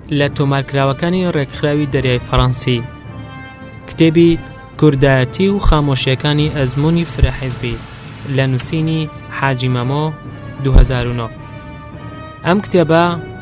لە تۆمارکراوەکانی ڕێکخراوی دەریای فەڕەنسی کتێبی کوردایەتی و خامۆشیەکانی ئەزمموی فرەحزبی لە نووسینی حاجی مەمۆ 2009 ئەم کتێبە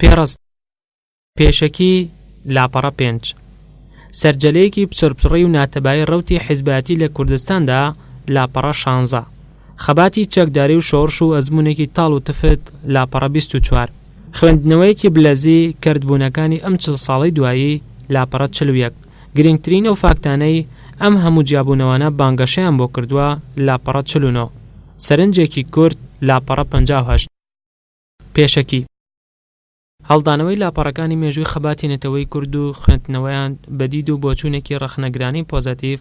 پێڕست پێشەکی لاپەڕە پێنج سەرجەلەیەکی پچڕپچڕی و ناتەبایی ڕەوتی حیزبایەتی لە کوردستاندا لاپەڕە شانزە خەباتی چەکداری و شۆڕش و ئەزمونێکی تاڵ و تفت لاپەڕە بیست و چوار خوێندنەوەیەکی بلەزی کردبوونەکانی ئەم چل ساڵەی دوایی لاپەڕە چل و یەک گرنگترین ئەو فاکتانەی ئەم هەموو جیابوونەوانە بانگەشەیان بۆ کردووە، لاپەڕە چل و نۆ، سەرنجێکی کورت، لاپەڕە پەنجا و هەشت، پێشەکی، هەڵدانەوەی لاپەڕەکانی مێژووی خەباتی نەتەوەی کورد و خوێندنەوەیان بە دید و بۆچوونێکی ڕەخنەگرانەی پۆزەتیڤ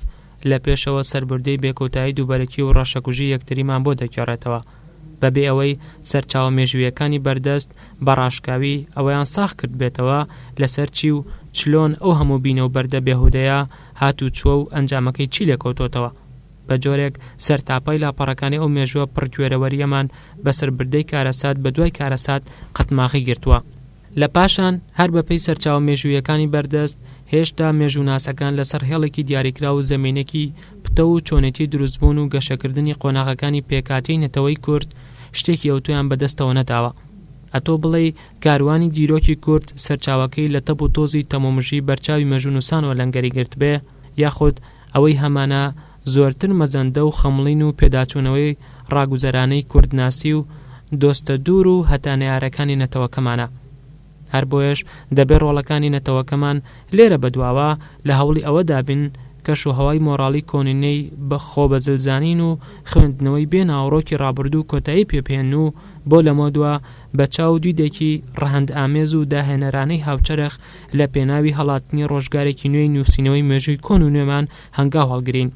لە پێشەوە سەربوردەی بێکۆتایی دووبەرەکی و ڕەشەکوژی یەکتریمان بۆ دەگێڕێتەوە. بە بێ ئەوەی سەرچاوە مێژوویەکانی بەردەست بە ڕاشکاوی ئەوەیان ساغ کردبێتەوە لە سەر چی و چلۆن ئەو هەموو بینە و بەردە بێهودەیە هات و چووە و ئەنجامەکەی چی لێ کەوتۆتەوە بە جۆرێک سەرتاپای لاپەڕەکانی ئەو مێژووە پڕ کوێرەوەریەمان بە سەربردەی کارەسات بە دوای کارەسات قەتماغی گرتووە. لە پاشان هەر بە پێی سەرچاوە مێژوویەکانی بەردەست، هێشتا مێژووناسەکان لە سەر هێڵێکی دیاریکراو و زەمینەکی پتەو و چۆنێتی دروستبوون و گەشەکردنی قۆناغەکانی پێکهاتەی نەتەوەی کورد شتێکی ئەوتۆیان بە دەستەوە نەداوە. ئەتۆ بڵێی کاروانی دیرۆکی کورد سەرچاوەکەی لە تەب و تۆزی تەمومژی بەرچاوی مێژوونوسانەوە لەنگەری گرتبێ، یاخود ئەوەی هەمانە، زۆرتر مەزەندە و خەمڵین و پێداچوونەوەی ڕاگوزەرانەی کوردناسی و دۆستە دوور و هەتا نەیارەکانی نەتەوەکەمانە. هەر بۆیەش دەبێ ڕۆڵەکانی نەتەوەکەمان لێرە بە دواوە لە هەوڵی ئەوە دابین کەش و هەوای مۆڕاڵی کۆنینەی بە خۆ بە زل زانین و خوێندنەوەی بێ ناوەڕۆکی ڕابوردوو کۆتایی پێ بهێن و بۆ لەمەو دوا بە چاو و دیدێکی ڕەهەند ئامێز و داهێنەرانەی هاوچەرخ لە پێناوی هەڵاتنی ڕۆژگارێکی نوێی نووسینەوەی مێژووی کۆن و نوێمان هەنگاو هەڵگرین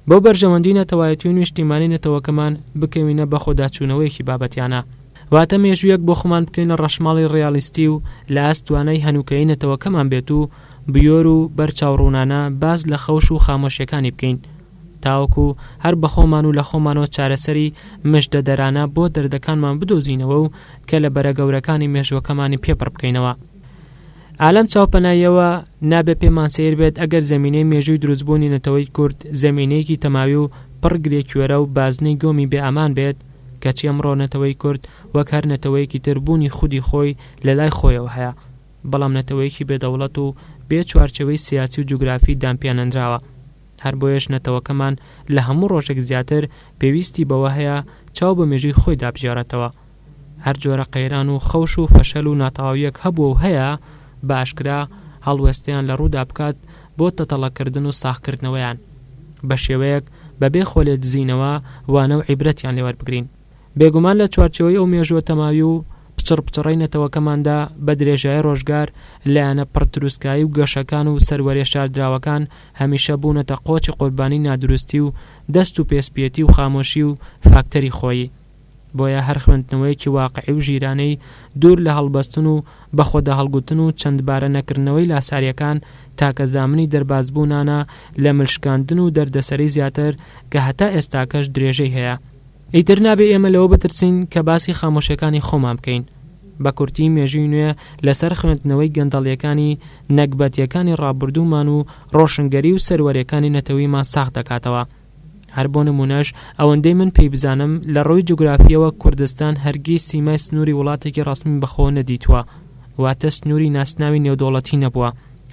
بۆ بەرژەوەندی نەتەوایەتی و نیشتیمانی نەتەوەکەمان، بکەوینە بەخۆداچوونەوەیەکی بابەتیانە، واتە مێژوویەک بۆ خۆمان بکەینە ڕەشماڵی ڕیالیستی و لە ئاست توانای هەنووکەیی نەتەوەکەمان بێت و بوێر و بەر چاوڕوونانە باس لە خەوش و خامۆشیەکانی بکەین تاوەکو هەر بە خۆمان و لە خۆمانەوە چارەسەری مژدەدەرانە بۆ دەردەکانمان بدۆزینەوە و کەلەبەرە گەورەکانی مێژووەکەمانی پێ پڕ بکەینەوە. ئا لەم چاوپەناییەوە نابێ پێمان سەیر بێت ئەگەر زەمینەی مێژووی دروستبوونی نەتەوەی کورد زەمینەیەکی تەماوی و پڕ گرێکوێرە و بازنەی گۆمی بێ ئەمان بێت، کەچی ئەمڕۆ نەتەوەی کورد وەک هەر نەتەوەیەکی تر بوونی خودی خۆی لە لای خۆیەوە هەیە، بەڵام نەتەوەیەکی بێ دەوڵەت و بێ چوارچێوەی سیاسی و جوگرافی دانپیانەنراوە. هەر بۆیەش نەتەوەکەمان لە هەموو ڕۆژێک زیاتر پێویستی بەوە هەیە چاو بە مێژووی خۆی دابژێڕێتەوە. هەر جۆرە قەیران و خەوش و فەشەل و ناتەواویەک هەبووە و هەیە، بە ئاشکرا هەڵوێستەیان لە ڕوودا بکات بۆ تەتەڵەکردن و ساغکردنەوەیان، بە شێوەیەک بە بێ خۆ لێدزینەوە وانە و عیبرەتیان لێ وەربگرین. بێگومان لە چوارچێوەی ئەو مێژووە تەماوی و پچڕ پچڕەی نەتەوەکەماندا، بە درێژایی ڕۆژگار لایەنە پڕ تروسکایی و گەشەکان و سەروەریە شاردراوەکان هەمیشە بوونەتە قۆچی قوربانی نادروستی و دەست و پێ سپیەتی و خامۆشی و فاکتەری خۆیی بۆیە هەر خوێندنەوەیەکی واقعی و ژیرانەی دوور لە هەڵبەستن و بە خۆداهەڵگوتن و چەند بارە نەکردنەوەی لاساریەکان تاکە زامنی دەربازبوونانە لە مل شکاندن و دەردەسەری زیاتر کە هەتا ئێستاکەش درێژەی هەیە. ئیتر نابێ ئێمە لەوە بترسین کە باسی خامۆشیەکانی خۆمان بکەین. بە کورتی مێژووی نوێ لە سەر خوێندنەوەی گەندەڵیەکانی نەگبەتیەکانی ڕابوردوومان و ڕۆشنگەری و سەروەریەکانی نەتەویمان ساخ دەکاتەوە. هەر بۆ نموونەش ئەوەندەی من پێی بزانم لە ڕووی جوگرافییەوە کوردستان هەرگیز سیمای سنووری وڵاتێکی ڕەسمی بەخۆوە نەدیتووە، واتە سنووری ناسناوی نێودەوڵەتی نەبووە،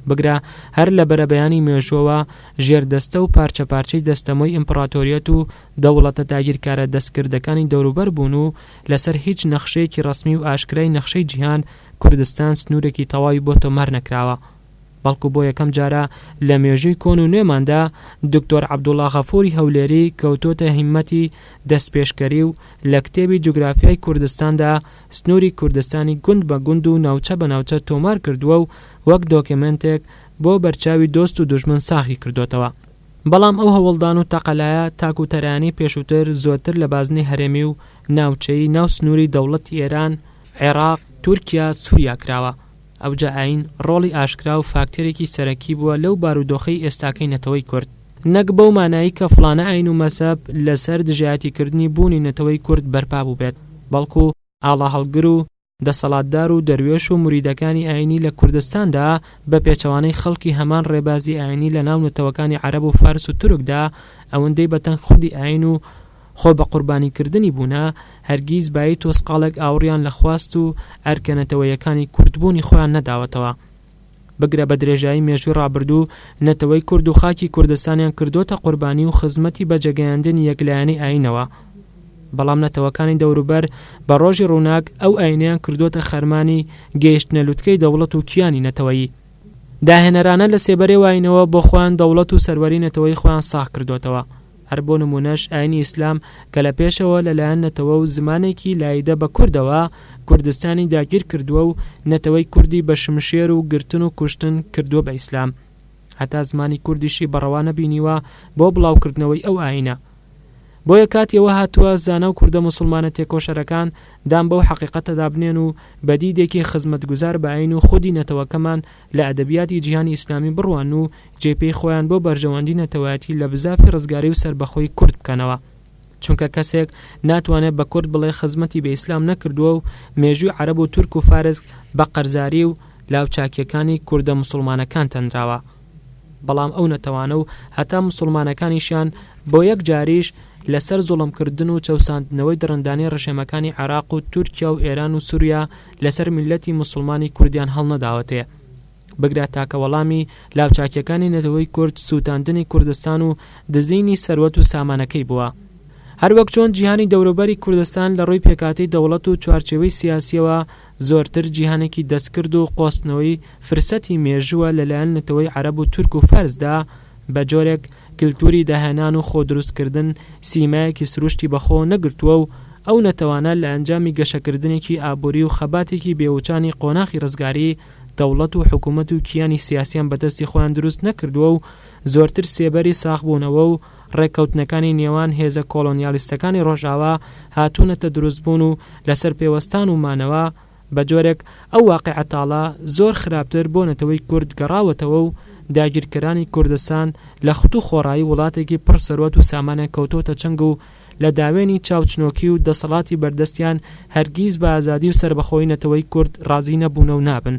بگرە هەر لە بەرەبەیانی مێژووەوە ژێردەستە و پارچە پارچەی دەستەمۆی ئیمپڕاتۆریەت و دەوڵەتە داگیرکارە دەستکردەکانی دەوروبەر بوون و لەسەر هیچ نەخشەیەکی ڕەسمی و ئاشکرای نەخشەی جیهان کوردستان سنوورێکی تەواوی بۆ تۆمار نەکراوە. بەڵکو بۆ یەکەم جارە لە مێژووی کۆن و نوێماندا دوکتۆر عەبدوڵا غەفوری هەولێری کەوتۆتە هیممەتی دەستپێشکەری و لە کتێبی جوگرافیای کوردستاندا سنوری کوردستانی گوند بە گوند و ناوچە بە ناوچە تۆمار کردووە و وەک دۆکێمێنتێک بۆ بەرچاوی دۆست و دوژمن ساغی کردۆتەوە. بەڵام ئەو هەوڵدان و تەقەلایە تاک و تەرایانی پێشووتر زۆرتر لە بازنەی هەرێمی و ناوچەیی ناو سنوری دەوڵەتی ئێران، عێراق، تورکیا، سوریا کراوە. ئەوجا ئایین ڕۆڵی ئاشکرا و فاکتەرێکی سەرەکی بووە لەو بارودۆخەی ئێستاکەی نەتەوەی کورد، نەک بەو مانایەی کە فڵانە ئایین و مەزهەب لەسەر دژایەتیکردنی بوونی نەتەوەی کورد بەرپا بووبێت، بەڵکو ئاڵاهەڵگر و دەسەڵاتدار و دەروێش و موریدەکانی ئایینی لە کوردستاندا بە پێچەوانەی خەڵکی هەمان ڕێبازی ئایینی لەناو نەتەوەکانی عەرەب و فارس و تورکدا ئەوندەی بەتەنگ خودی ئایین و خۆ بە قوربانی کردنی بوونە، هەرگیز بایی تۆسقاڵێک ئاوڕیان لە خواست و ئەرکە نەتەوەیەکانی کورد بوونی خۆیان نەداوەتەوە. بگرە بە درێژایی مێژووی ڕابردوو نەتەوەی کورد و خاکی کوردستانیان کردۆتە قوربانی و خزمەتی بە جێگەیاندنی یەک لایەنەی ئایینەوە، بەڵام نەتەوەکانی دەوروبەر بە ڕۆژی ڕووناک ئەو ئایینەیان کردۆتە خەرمانی گەیشتنە لوتکەی دەوڵەت و کیانی نەتەوەیی. داهێنەرانە لە سێبەرەی و ئایینەوە بۆ خۆیان دەوڵەت و سەروەری نەتەوەی خۆیان ساغ کردۆتەوە. هەر بۆ نموونەش ئاینی ئیسلام کە لە پێشەوە لە لایەن نەتەوە و زمانێکی لاییدە بە کوردەوە کوردستانی داگیر کردووە و نەتەوەی کوردی بە شمشێر و گرتن و کوشتن کردووە بە ئیسلام هەتا زمانی کوردیشی بە ڕەوا نەبینیوە بۆ بڵاو کردنەوەی ئەو ئاینە. بۆیە کاتی ئەوە هاتووە زانا و کوردە موسڵمانە تێکۆشەرەکان دان بەو حەقیقەتەدا بنێن و بە دیدێکی خزمەتگوزار بە ئاین و خودی نەتەوەکەمان لە ئەدەبیاتی جیهانی ئیسلامی بڕوان و جێ پێی خۆیان بۆ بەرژەوەندی نەتەوایەتی لە بزافی ڕزگاری و سەربەخۆی کورد بکەنەوە. چونکە کەسێک ناتوانێ بە کورد بڵێ خزمەتی بە ئیسلام نەکردووە و مێژووی عەرەب و تورک و فارس بە قەرزاری و لاوچاکیەکانی کوردە موسوڵمانەکان تەنراوە بەڵام ئەو نەتەوانە و هەتا موسوڵمانەکانیشیان بۆ یەک جاریش لە سەر زوڵم کردن و چەوساندنەوەی دڕندانەی ڕژێمەکانی عێراق و تورکیا و ئێران و سوریا لەسەر میللەتی موسڵمانی کوردیان هەڵنەداوەتێ بگرە تاکە وەڵامی لاوچاکیەکانی نەتەوەی کورد سوتاندنی کوردستان و دزینی سەروەت و سامانەکەی بووە هەروەک چۆن جیهانی دەوروبەری کوردستان لە ڕووی پێکهاتەی دەوڵەت و چوارچێوەی سیاسیەوە زۆرتر جیهانێکی دەستکرد و قۆستنەوەی فرسەتی مێژووە لەلایەن نەتەوەی عەرەب و تورک و فارسدا بە جۆرێک کلتوری داهێنان و خۆ دروست کردن سیمایەکی سروشتی بە خۆ نەگرتووە و ئەو نەتەوانە لە ئەنجامی گەشەکردنێکی ئابوری و خەباتێکی بێ وچانی قۆناخی ڕزگاری دەوڵەت و حکومەت و کیانی سیاسیان بە دەستی خۆیان دروست نەکردووە و زۆرتر سێبەری ساغبوونەوە و ڕێککەوتنەکانی نێوان هێزە کۆڵۆنیالیستەکانی ڕۆژاوا هاتوونەتە دروستبوون و لەسەر پێوەستان و مانەوە بە جۆرێک ئەو واقیعە تاڵە زۆر خراپتر بۆ نەتەوەی کورد گەڕاوەتەوە و داگیرکەرانی کوردستان لە خت و خۆڕایی وڵاتێکی پڕ سەروەت و سامانیان کەوتۆتە چنگ و لە داوێنی چاوچنۆکی و دەسەڵاتی بەردەستیان هەرگیز بە ئازادی و سەربەخۆیی نەتەوەی کورد ڕازی نەبوونە و نابن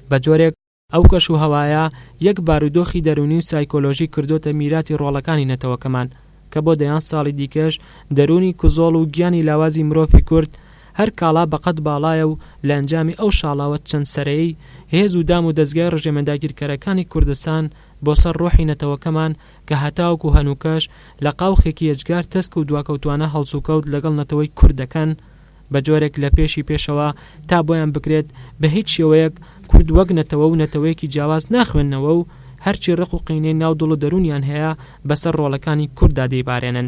بە جۆرێک ئەو کەش و هەوایە یەک بارودۆخی دەروونی و سایکۆلۆژی کردۆتە میراتی ڕۆڵەکانی نەتەوەکەمان کە بۆ دەیان ساڵی دیکەش دەروونی کزۆڵ و گیانی لاوازی مرۆفی کورد هەر کاڵا بە قەد باڵایە و لە ئەنجامی ئەو شاڵاوە چەند سەرەی هێز و دام و دەزگای ڕژێمە داگیرکەرەکانی کوردستان بۆ سەر ڕۆحی نەتەوەکەمان کە هەتاوەکو هەنووکەش لە قاوخێکی یەجگار تەسک و دواکەوتوانە هەڵسوکەوت لەگەڵ نەتەوەی کورد دەکەن بە جۆرێک لە پێشی پێشەوە تا بۆیان بکرێت بە هیچ شێوەیەک کورد وەک نەتەوە و نەتەوەیەکی جیاواز ناخوێننەوە و هەرچی ڕق و قینەی ناو دڵ و دەروونیان هەیە بەسەر ڕۆڵەکانی کورددا دەیبارێنن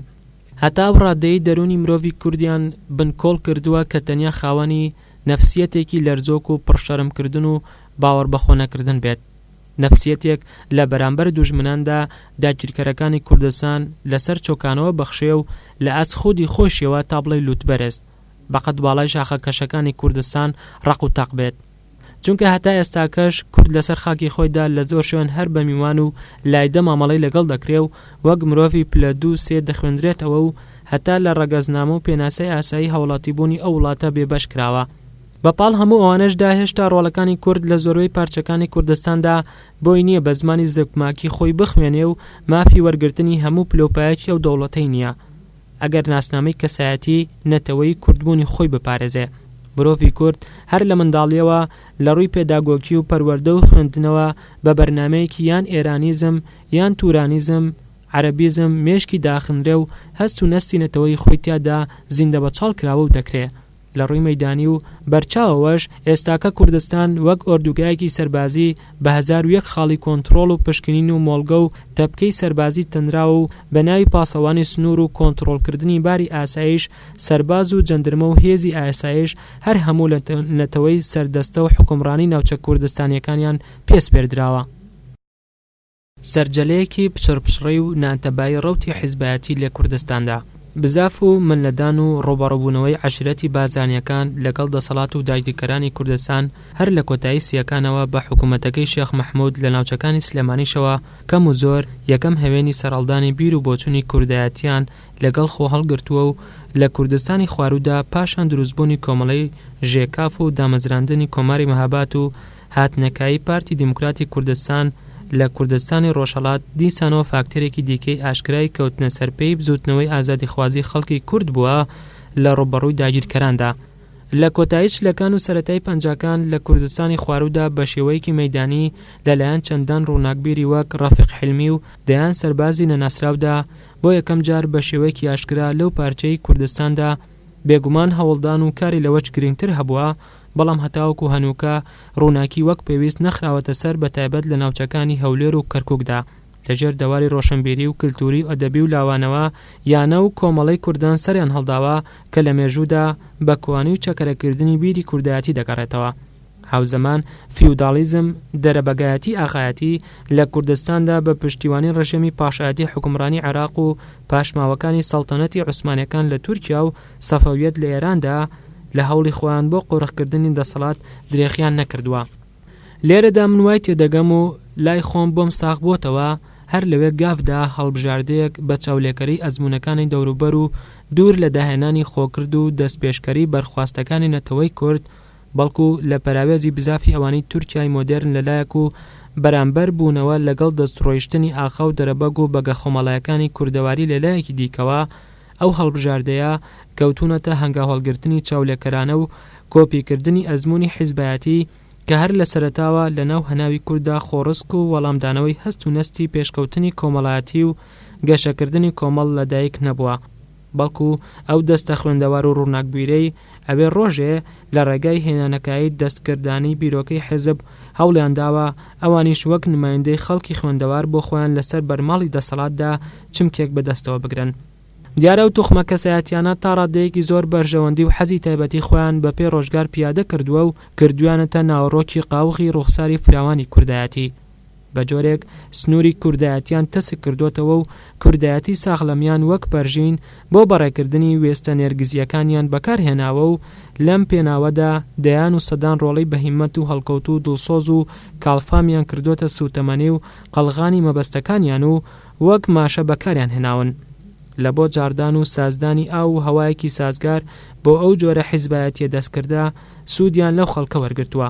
هەتا ئەو ڕادەیەی دەروونی مرۆڤی کوردیان بنکۆڵ کردووە کە تەنیا خاوەنی نەفسیەتێکی لەرزۆک و پڕ شەرمکردن و باوەڕبەخۆنەکردن بێت. نەفسیەتێک لە بەرامبەر دوژمناندا داگیرکەرەکانی کوردستان لەسەر چۆکانەوە بەخشێ و لە ئاست خودی خۆیشیەوە تا بڵێی لوتبەرست بەقەد باڵای شاخە کەشەکانی کوردستان ڕەق و تەق بێت. چونکە هەتا ئێستاکەش کورد لەسەر خاکی خۆیدا لە زۆر شوێن هەر بە میوان و لایدە مامەڵەی لەگەڵ دەکرێ و وەک مرۆڤی پلە دوو سێ دەخوێندرێتەوە و هەتا لە ڕەگەزنامە و پێناسەی ئاسایی هاوڵاتیبوونی ئەو وڵاتە بێبەش کراوە. بە پاڵ هەموو ئەوانەشدا هێشتا ڕۆڵەکانی کورد لە زۆربەی پارچەکانی کوردستاندا بۆی نییە بە زمانی زگماکی خۆی بخوێنێ و مافی وەرگرتنی هەموو پلەوپایەکی ئەو دەوڵەتەی نییە ئەگەر ناسنامەی کەسایەتی نەتەوەیی کوردبوونی خۆی بپارێزێ. مرۆڤی کورد هەر لە منداڵییەوە لە ڕووی پێداگۆکی و پەروەردە و خوێندنەوە بە بەرنامەیەکی یان ئێرانیزم یان تورانیزم، عەرەبیزم، مێشکی داخنرێ و هەست و نەستی نەتەوەیی خۆی تیادا زیندەبەچاڵ کراوە و دەکرێ لە ڕووی مەیدانی و بەرچاوەوەش ئێستاکە کوردستان وەک ئۆردوگایەکی سەربازی بە هەزار و یەک خاڵی کۆنتڕۆڵ و پشکنین و مۆڵگە و تەپکەی سەربازی تەنراوە و بە ناوی پاسەوانی سنوور و کۆنتڕۆڵکردنی باری ئاسایش سەرباز و جەندرمە و هێزی ئاسایش هەر هەموو لە نەتەوەی سەردەستە و حوکمڕانی ناوچە کوردستانیەکانیان پێ سپێردراوە. سەرجەلەیەکی پچڕپچڕی و نانتەبایی ڕەوتی حیزبایەتی لە کوردستاندا، بزاف و ملدان و ڕووبەڕووبوونەوەی عەشیرەتی بارزانییەکان لەگەڵ دەسەڵات و داگیرکەرانی کوردستان هەر لە کۆتایی سییەکانەوە بە حکوومەتەکەی شێخ مەحموود لە ناوچەکانی سلێمانیشەوە کەم و زۆر یەکەم هەوێنی سەرهەڵدانی بیر و بۆچوونی کوردایەتییان لەگەڵ خۆ هەڵگرتووە و لە کوردستانی خواروودا پاشان دروستبوونی کۆمەڵەی ژێکاف و دامەزراندنی کۆماری مهاباد و هاتنەکایی پارتی دیموکراتی کوردستان لە کوردستانی ڕۆژهەڵات دیسانەوە فاکتەرێکی دیکەی ئاشکرای کەوتنە سەر پێی بزووتنەوەی ئازادیخوازی خەڵکی کورد بووە لە ڕووبەڕووی داگیرکەراندا لە کۆتایی چلەکان و سەرەتای پەنجاکان لە کوردستانی خواروودا بە شێوەیەکی مەیدانی لە لایەن چەندان ڕووناکبیری وەک ڕەفیق حیلمی و دەیان سەربازی نەناسراودا بۆ یەکەم جار بە شێوەیەکی ئاشکرا لەو پارچەی کوردستاندا بێگومان هەوڵدان و کاری لەوەچ گرینگتر هەبووە بەڵام هەتاوەکو هەنووکە ڕووناکی وەک پێویست نەخراوەتە سەر بە تایبەت لە ناوچەکانی هەولێر و کەرکوکدا لە ژێر دەواری ڕۆشنبیری و کلتوری و ئەدەبی و لاوانەوە یانە و کۆمەڵەی کوردان سەریان هەڵداوە کە لە مێژوودا بە کوانی و چەکەرەکردنی بیری کوردایەتی دەگەڕێتەوە هاوزەمان فیوداڵیزم دەرەبەگایەتی ئاغایەتی لە کوردستاندا بە پشتیوانی ڕژێمی پاشایەتی حوکمڕانی عێراق و پاشماوەکانی سەڵتەنەتی عوسمانیەکان لە تورکیا و سەفەویەت لە ئێراندا لە هەوڵی خۆیان بۆ قۆرخکردنی دەسەڵات درێخیان نەکردووە. لێرەدا من وای تێدەگەم و لای خۆم بۆم ساغ بۆتەوە هەر لەوێ گافدا هەڵبژاردەیەک بە چاولێکەری ئەزموونەکانی دەوروبەر و دوور لە داهێنانی خۆکرد و دەستپێشکەری بەرخواستەکانی نەتەوەی کورد بەڵکو لە پەراوێزی بزافی ئەوانی تورکیای مۆدێرن لە لایەک و بەرامبەر بوونەوە لەگەڵ دەستڕۆیشتنی ئاخاو دەرەبەگ و بەگە خۆماڵایەکانی کوردەواری لە لایەکی دیکەوە ئەو هەڵبژاردەیە کەوتوونەتە هەنگاوهەڵگرتنی چاولێکەرانە و کۆپی کردنی ئەزموونی حیزبایەتی کە هەر لە سەرەتاوە لە ناو هەناوی کورددا خۆڕسک و وەڵامدانەوەی هەست و نەستی پێشکەوتنی کۆمەڵایەتی و گەشەکردنی کۆمەڵ لە دایک نەبووە بەڵکوو ئەو دەستە خوێندەوار و ڕووناکبیرەی ئەوێ ڕۆژێ لە ڕێگای هێنانەکایەی دەستکردانی بیرۆکەی حیزب هەوڵیان داوە ئەوانیش وەک نمایندەی خەڵکی خوێندەوار بۆ خۆیان لە سەر بەرماڵی دەسەڵاتدا چمکێک بە دەستەوە بگرن. دیارە ئەو توخمە کەسایەتیانە تا ڕادەیەکی زۆر بەرژەوەندی و حەزی تایبەتی خۆیان بە پێی ڕۆژگار پیادە کردووە و کردوویانەتە ناوەڕۆکی قاوغی ڕووخساری فراوانی کوردایەتی. بە جۆرێک سنووری کوردایەتیان تەسک کردۆتەوە و کوردایەتی ساخلەمیان وەک پەرژین بۆ بەڕێکردنی وێستە نێرگزییەکانیان بەکار هێناوە و لەم پێناوەدا دەیان و سەدان ڕۆڵەی بەهیمەت و هەڵکەوتوو و دڵسۆز و کاڵفامیان کردۆتە سووتەمەنی و قەڵغانی مەبەستەکانیان و وەک ماشە بەکاریان هێناون لە بۆ جاڕدان و سازدانی ئاو و هەوایەکی سازگار بۆ ئەو جۆرە حیزبایەتییە دەستکردە سوودیان لەو خەڵکە وەرگرتووە.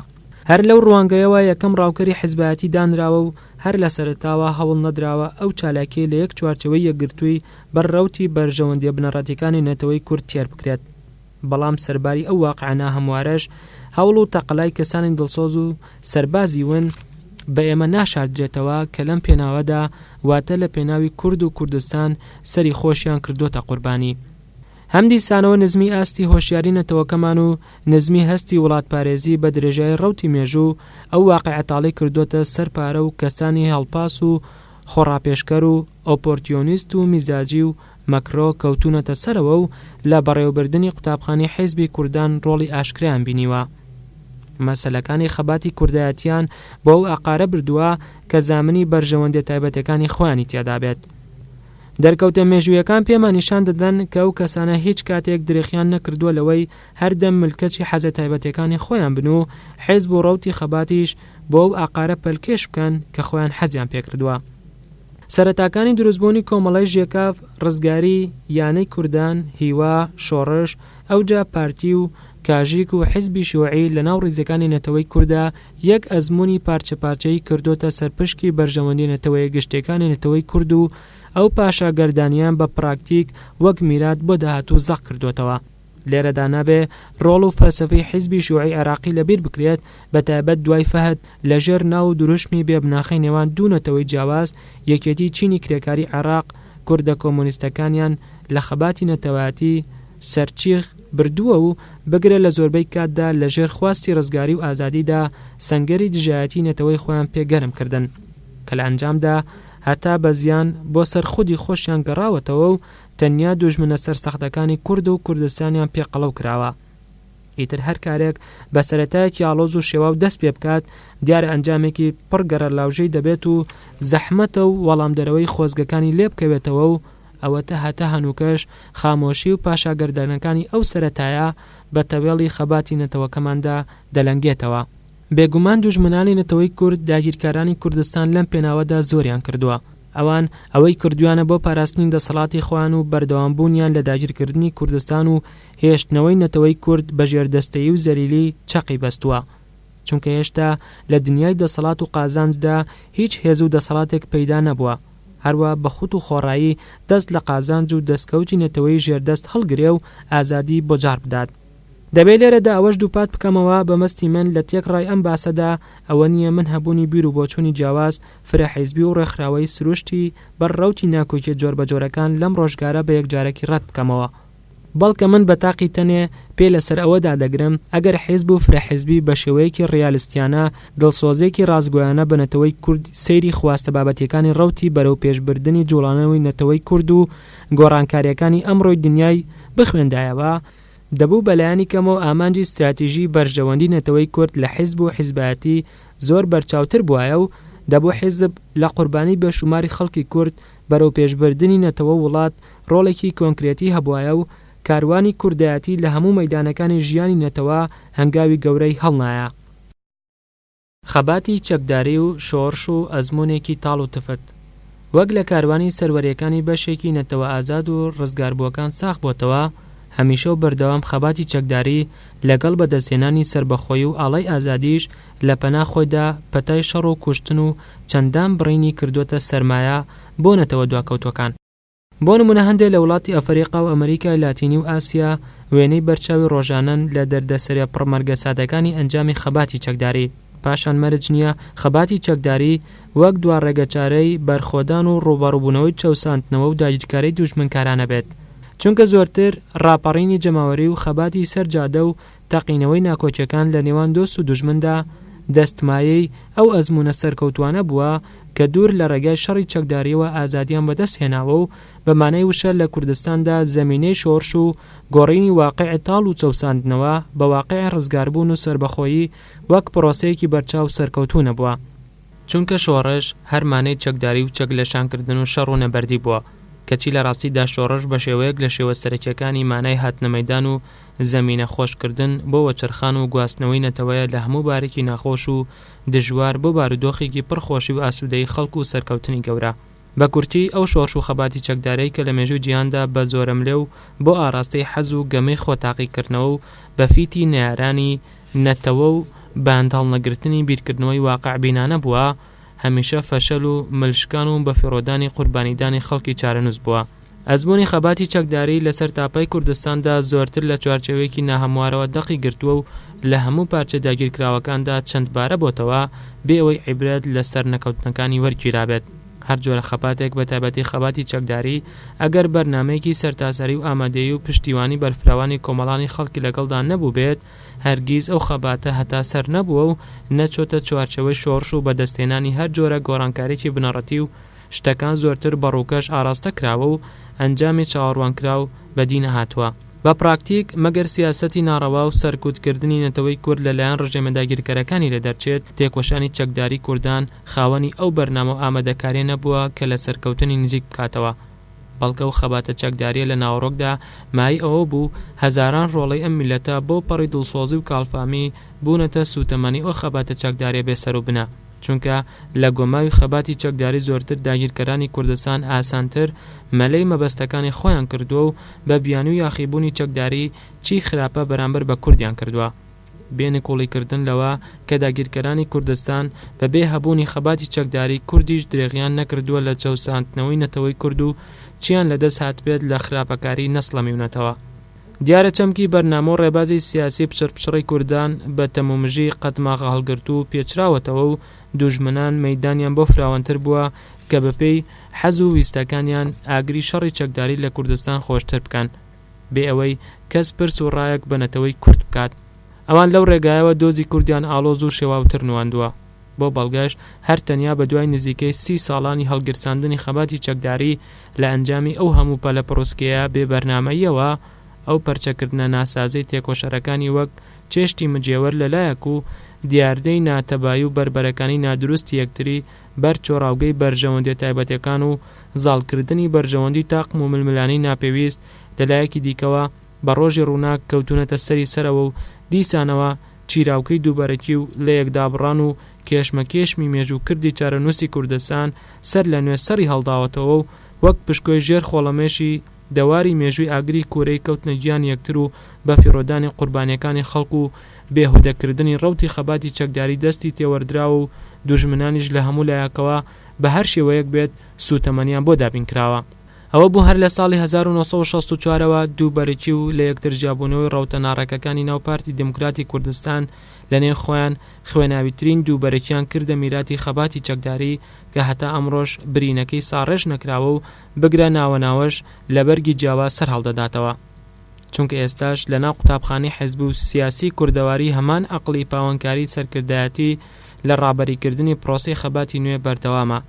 هەر لەو ڕوانگەیەوە یەکەم ڕاوکەری حیزبایەتی دانراوە و هەر لە سەرەتاوە هەوڵ نەدراوە ئەو چالاکیەی لە یەک چوارچێوەی یەکگرتووی بەر ڕەوتی بەرژەوەندیە بنەڕەتیەکانی نەتەوەی کورد تێر بکرێت بەڵام سەرباری ئەو واقعە ناهەموارەش هەوڵ و تەقەلای کەسانی دڵسۆز و سەربازی ون بە ئێمە ناشاردرێتەوە کە لەم پێناوەدا واتە لە پێناوی کورد و کوردستان سەری خۆشیان کردۆتە قوربانی. هەمدیسانەوە نزمی ئاستی هۆشیاری نەتەوەکەمان و نزمی هەستی وڵاتپارێزی بە درێژایی ڕەوتی مێژوو ئەو واقیعە تاڵی کردووەتە سەر پارە و کەسانی هەڵپاس و خۆڕاپێشکەر و ئۆپۆرتیۆنیست و میزاجی و مەکرۆ کەوتوونەتە سەرەوە و لە بەڕێوەبردنی قوتابخانەی حیزبی کوردان ڕۆڵی ئاشکرایان بینیوە مەسەلەکانی خەباتی کوردایەتییان بۆ ئەو ئاقارە بردووە کە زامنی بەرژەوەندیە تایبەتەکانی خۆیانی تیادا بێت. دەرکەوتە مێژوویەکان پێمان نیشان دەدەن کە ئەو کەسانە هیچ کاتێک درێخیان نەکردووە لەوەی هەردەم ملکەچی حەزە تایبەتەکانی خۆیان بن و حیزب و ڕەوتی خەباتیش بۆ ئەو ئاقارە پەلکێش بکەن کە خۆیان حەزیان پێکردووە. سەرەتاکانی دروستبوونی کۆمەڵەی ژێکاف، ڕزگاری، یانەی کوردان، هیوا، شۆڕش، ئەوجا پارتی و کاژیک و حیزبی شیوعی لەناو ڕیزەکانی نەتەوەی کوردا، یەک ئەزموونی پارچە پارچەیی کردۆتە سەر پشکی بەرژەوەندی نەتەوەیە گشتێکانی نەتەوەی کورد و ئەو پاشا گەردانیان بە پراکتیک وەک میرات بۆ داهاتوو زەق کردۆتەوە. لێرەدا نابێ ڕۆڵ و فەلسەفەی حیزبی شیوعی عێراقی لە بیر بکرێت بە تایبەت دوای فەهد لە ژێر ناو و دروشمی بێ بناخەی نێوان دوو نەتەوەی جیاواز یەکێتی چینی کرێکاری عێراق کوردە کۆمۆنیستەکانیان لە خەباتی نەتەوایەتی سەرچیغ بردووە و بگرە لە زۆربەی کاتدا لە ژێر خواستی ڕزگاری و ئازادیدا سەنگەری دژایەتی نەتەوەی خۆیان پێ گەرم کردن کە لە ئەنجامدا هەتا بە زیان بۆ سەر خودی خۆشیان گەڕاوەتەوە و تەنیا دوژمنە سەرسەختەکانی کورد و کوردستانیان پێ قەڵەو کراوە. ئیتر هەر کارێک بە سەرەتایەکی ئاڵۆز و شێواو دەست پێ بکات دیارە ئەنجامێکی پڕ گەڕەلاوژەی دەبێت و زەحمەتە و وەڵامدەرەوەی خۆزگەکانی لێ بکەوێتەوە و ئەوەتە هەتا هەنووکەش خامۆشی و پاشاگەردانەکانی ئەو سەرەتایە بە تەوێڵی خەباتی نەتەوەکەماندا دەلەنگێتەوە. بێگومان دوژمنانی نەتەوەی کورد داگیرکارانی کوردستان لەم پێناوەدا زۆریان کردووە. ئەوان ئەوەی کردوویانە بۆ پاراستنی دەسەڵاتی خۆیان و بەردەوامبوونیان لە داگیرکردنی کوردستان و هێشتنەوەی نەتەوەی کورد بە ژێردەستەیی و زەلیلی چەقی بەستووە. چونکە هێشتا لە دنیای دەسەڵات و قازانجدا هیچ هێز و دەسەڵاتێک پەیدا نەبووە هەروا بەخوت و خۆڕایی دەست لە قازانج و دەستکەوتی نەتەوەی ژێردەست هەڵگرێ و ئازادی بۆ جاڕ بدات. دەبێ لێرەدا ئەوەش دووپات بکەمەوە بە مەستی من لە تێکڕای ئەم باسەدا ئەوە نییە من هەبوونی بیر و بۆچوونی جیاواز، فرە حیزبی و ڕێکخراوەیی سروشتی بەر ڕەوتی ناکۆکییە جۆربەجۆرەکان لەم ڕۆژگارە بە یەکجارەکی ڕەت بکەمەوە، بەڵکە من بە تاقی تەنێ پێ لە سەر ئەوە دادەگرم ئەگەر حیزب و فرە حیزبی بە شێوەیەکی ڕیالستیانە، دڵسۆزیەکی ڕاستگۆیانە بە نەتەوەی کورد سەیری خواستە بابەتیەکانی ڕەوتی بەرەو پێش بردنی جوڵانەوەی نەتەوەی کورد و گۆڕانکاریەکانی ئەمڕۆی دنیای بخوێندایەوە، دەبوو بە لایەنی کەمەوە ئامانجی ستراتیژی بەرژەوەندی نەتەوەی کورد لە حیزب و حیزبایەتی زۆر بەرچاوتر بوایە و دەبوو حیزب لە قوربانی بێ شوماری خەڵکی کورد بەرەوپێشبردنی نەتەوە و وڵات ڕۆڵێکی کۆنکرێتی هەبوایە و کاروانی کوردایەتی لە هەموو مەیدانەکانی ژیانی نەتەوە هەنگاوی گەورەی هەڵنایە. خەباتی چەکداری و شۆڕش و ئەزموونێکی تاڵ و تفت وەک لە کاروانی سەروەریەکانی بەشێکی نەتەوە ئازاد و ڕزگاربووەکان ساغ بۆتەوە، هەمیشە و بەردەوام خەباتی چەکداری لەگەڵ بەدەستهێنانی سەربەخۆیی و ئاڵای ئازادیش، لە پەنا خۆیدا پەتای شەڕ و کوشتن و چەندان بڕینی کردووەتە سەرمایە بۆ نەتەوە دواکەوتووەکان. بۆ نموونە هەندێ لە وڵاتی ئەفەریقا و ئەمەریکای لاتینی و ئاسیا وێنەی بەرچاوی ڕۆژانەن لە دەردەسەرە پڕ مەرگە سادەکانی ئەنجامی خەباتی چەکداری، پاشان مەرج نییە خەباتی چەکداری وەک دوا ڕێگەچارەی بەرخۆدان و ڕووبەڕووبوونەوەی چەوساندنەوە و داگیرکاریی دوژمنکارانە بێت، چونکە زۆرتر ڕاپەڕینی جەماوەری و خەباتی سەر جادە و تەقینەوەی ناکۆکیەکان لە نێوان دۆست و دوژمندا دەست مایەی ئەو ئەزموونە سەرکەوتوانە بووە کە دوور لە ڕێگای شەڕی چەکداریەوە ئازادیان بەدەست هێناوە و بە مانای وشە لە کوردستاندا زەمینەی شۆڕش و گۆڕینی واقیعی تاڵ و چەوساندنەوە بە واقیعی ڕزگاربوون و سەربەخۆیی وەک پرۆسەیەکی بەرچاو سەرکەوتوو نەبووە. چونکە شۆڕش هەر مانەی چەکداری و چەک لەشانکردن و شەڕ و نەبەردی بووە، کەچی لە ڕاستیدا شۆڕش بە شێوەیەک لە شێوە سەرەکییەکانی مانای هاتنە مەیدان و زەمینە خۆشکردن بۆ وەچەرخان و گواستنەوەی نەتەوەیە لە هەموو بارێکی ناخۆش و دژوار بۆ بارودۆخێکی پڕ خۆشی و ئاسوودەیی خەڵک و سەرکەوتنی گەورە. بە کورتی ئەو شۆرش و خەباتی چەکدارەی کە لە مێژووی جیهاندا بە زۆرەملێ و بۆ ئاراستەی حەز و گەمەی خۆ تاقی کردنەوە و بە فیتی نەیارانی نەتەوە و بەند هەڵنەگرتنی بیرکردنەوەی واقع بینانە بووە هەمیشە فەشەل و مل شکان و بەفیڕۆدانی قوربانیدانی خەڵکی چارەنووس بووە. ئەزموونی خەباتی چەکداریی لە سەرتاپای کوردستاندا زۆرتر لە چوارچێوەیەکی ناهەموارەوە دەقی گرتووە و لە هەموو پارچە داگیرکراوەکاندا چەند بارە بۆتەوە، بێ ئەوەی عیبرەت لە سەرنەکەوتنەکانی وەرگیرابێت. هەر جۆرە خەباتێک بە تایبەتی خەباتی چەکداریی ئەگەر بەرنامەیەکی سەرتاسەری و ئامادەیی و پشتیوانی بەرفراوانی کۆمەڵانی خەڵکی لەگەڵدا نەبووبێت، هەرگیز ئەو خەباتە هەتا سەر نەبووە و نەچۆتە چوارچێوەی شۆڕش و بەدەستهێنانی هەر جۆرە گۆڕانکاریی بنەڕەتی و شتەکان زۆرتر بە ڕووکەش ئاراستە کراوە و ئەنجامی چاوەڕوانکراو بەدی نەهاتووە. بە پراکتیک، مەگەر سیاسەتی ناڕەوا و سەرکوتکردنی نەتەوەی کورد لە لایەن ڕژێمە داگیرکەرەکانی لێ دەرچێت، تێکۆشانی چەکداری کوردان خاوەنی ئەو بەرنامە و ئامادەکاریە نەبووە کە لە سەرکەوتنی نزیک بکاتەوە. بەڵکە ئەو خەباتە چەکداریە لە ناوەڕۆکدا مایەی ئەوە بوو هەزاران ڕۆڵەی ئەم میللەتە بەو پەڕی دڵسۆزی و کاڵفامی بوونەتە سووتەمەنی ئەو خەباتە چەکداریە بێ سەروبنە. چونکە لە گۆماوی خەباتی چەکداری زۆرتر داگیرکەرانی کوردستان ئاسانتر مەلەی مەبەستەکانی خۆیان کردووە و بە بیانوی و یاخیبوونی چەکداری چی خراپە بەرامبەر بە کوردیان کردووە بێ نکوڵی کردن لەوە کە داگیرکەرانی کوردستان بە بێ هەبوونی خەباتی چەکداری کوردیش درێغیان نەکردووە لە چەوساندنەوەی نەتەوەی کورد و چیان لە دەست هاتبێت لە خراپەکاری نەسڵەمیونەتەوە. دیارە چەمکی بەرنامە و ڕێبازی سیاسی پچڕپچڕی کوردان بە تەمومژی قەتماغە هەڵگرتوو پێچراوەتەوە و دوژمنان مەیدانیان بۆ فراوانتر بووە کە بەپێی حەز و ویستەکانیان ئاگری شەڕی چەکداری لە کوردستان خۆشتر بکەن بێ ئەوەی کەس پرس و ڕایەک بە نەتەوەی کورد بکات. ئەوان لەو ڕێگایەوە دۆزی کوردیان ئاڵۆز و شێواوتر نواندووە. بۆ بەڵگەش هەر تەنیا بە دوای نزیکەی سی ساڵانی هەڵگیرساندنی خەباتی چەکداری، لە ئەنجامی ئەو هەموو پەلە پڕوسکێیە بێ بەرنامەییەوە، ئەو پەرچەکردنە ناسازەی تێکۆشەرەکانی وەک چێشتی مجێوەر لە لایەک و دیاردەی ناتەبایی و بەربەرەکانی نادروستی یەکتری بەر چۆڕاوگەی بەرژەوەندیە تایبەتەکان و زاڵکردنی بەرژەوەندی تاقم و ململانێی ناپێویست لە لایەکی دیکەوە بە ڕۆژی ڕووناک کەوتوونەتە سەری سەرەوە و دیسانەوە چیراوکەی دووبەرەکی و لەیەکدابڕان و کێشمەکێشمی مێژوو کردی چارەنووسی کوردستان سەر لە نوێ سەری هەڵداوەتەوە و وەک پشکۆی ژێر خۆڵەمێشی دەواری مێژووی ئاگری کورەی کەوتنە گیانی یەکتر و بە فیڕۆدانی قوربانیەکانی خەڵک و بێهودە کردنی ڕەوتی خەباتی چەکداری دەستی تێوەردراوە و دوژمنانیش لە هەموو لایەکەوە بە هەر شێوەیەک بێت سوتەمەنیان بۆ دابین کراوە. ئەوە بوو هەر لە ساڵی هەزار و نۆ سەد و شەست و چوار ەوە دووبەرەکی و لە یەکتر جیابوونەوەی ڕەوتە ناڕێکەکانی ناو پارتی دیموکراتی کوردستان لە نێو خۆیان خوێناویترین دووبەرەکیان کردە میراتی خەباتی چەکداری کە هەتا ئەمڕۆش برینەکەی ساڕێژ نەکراوە و بگرە ناوە ناوەش لە بەرگی جیاواز سەر هەڵدەداتەوە چونکە ئێستاش لە ناو قوتابخانەی حیزب و سیاسی کوردەواری هەمان ئەقڵی پاوانکاری سەرکردایەتی لە ڕابەری کردنی پڕۆسەی خەباتی نوێ بەردەوامە.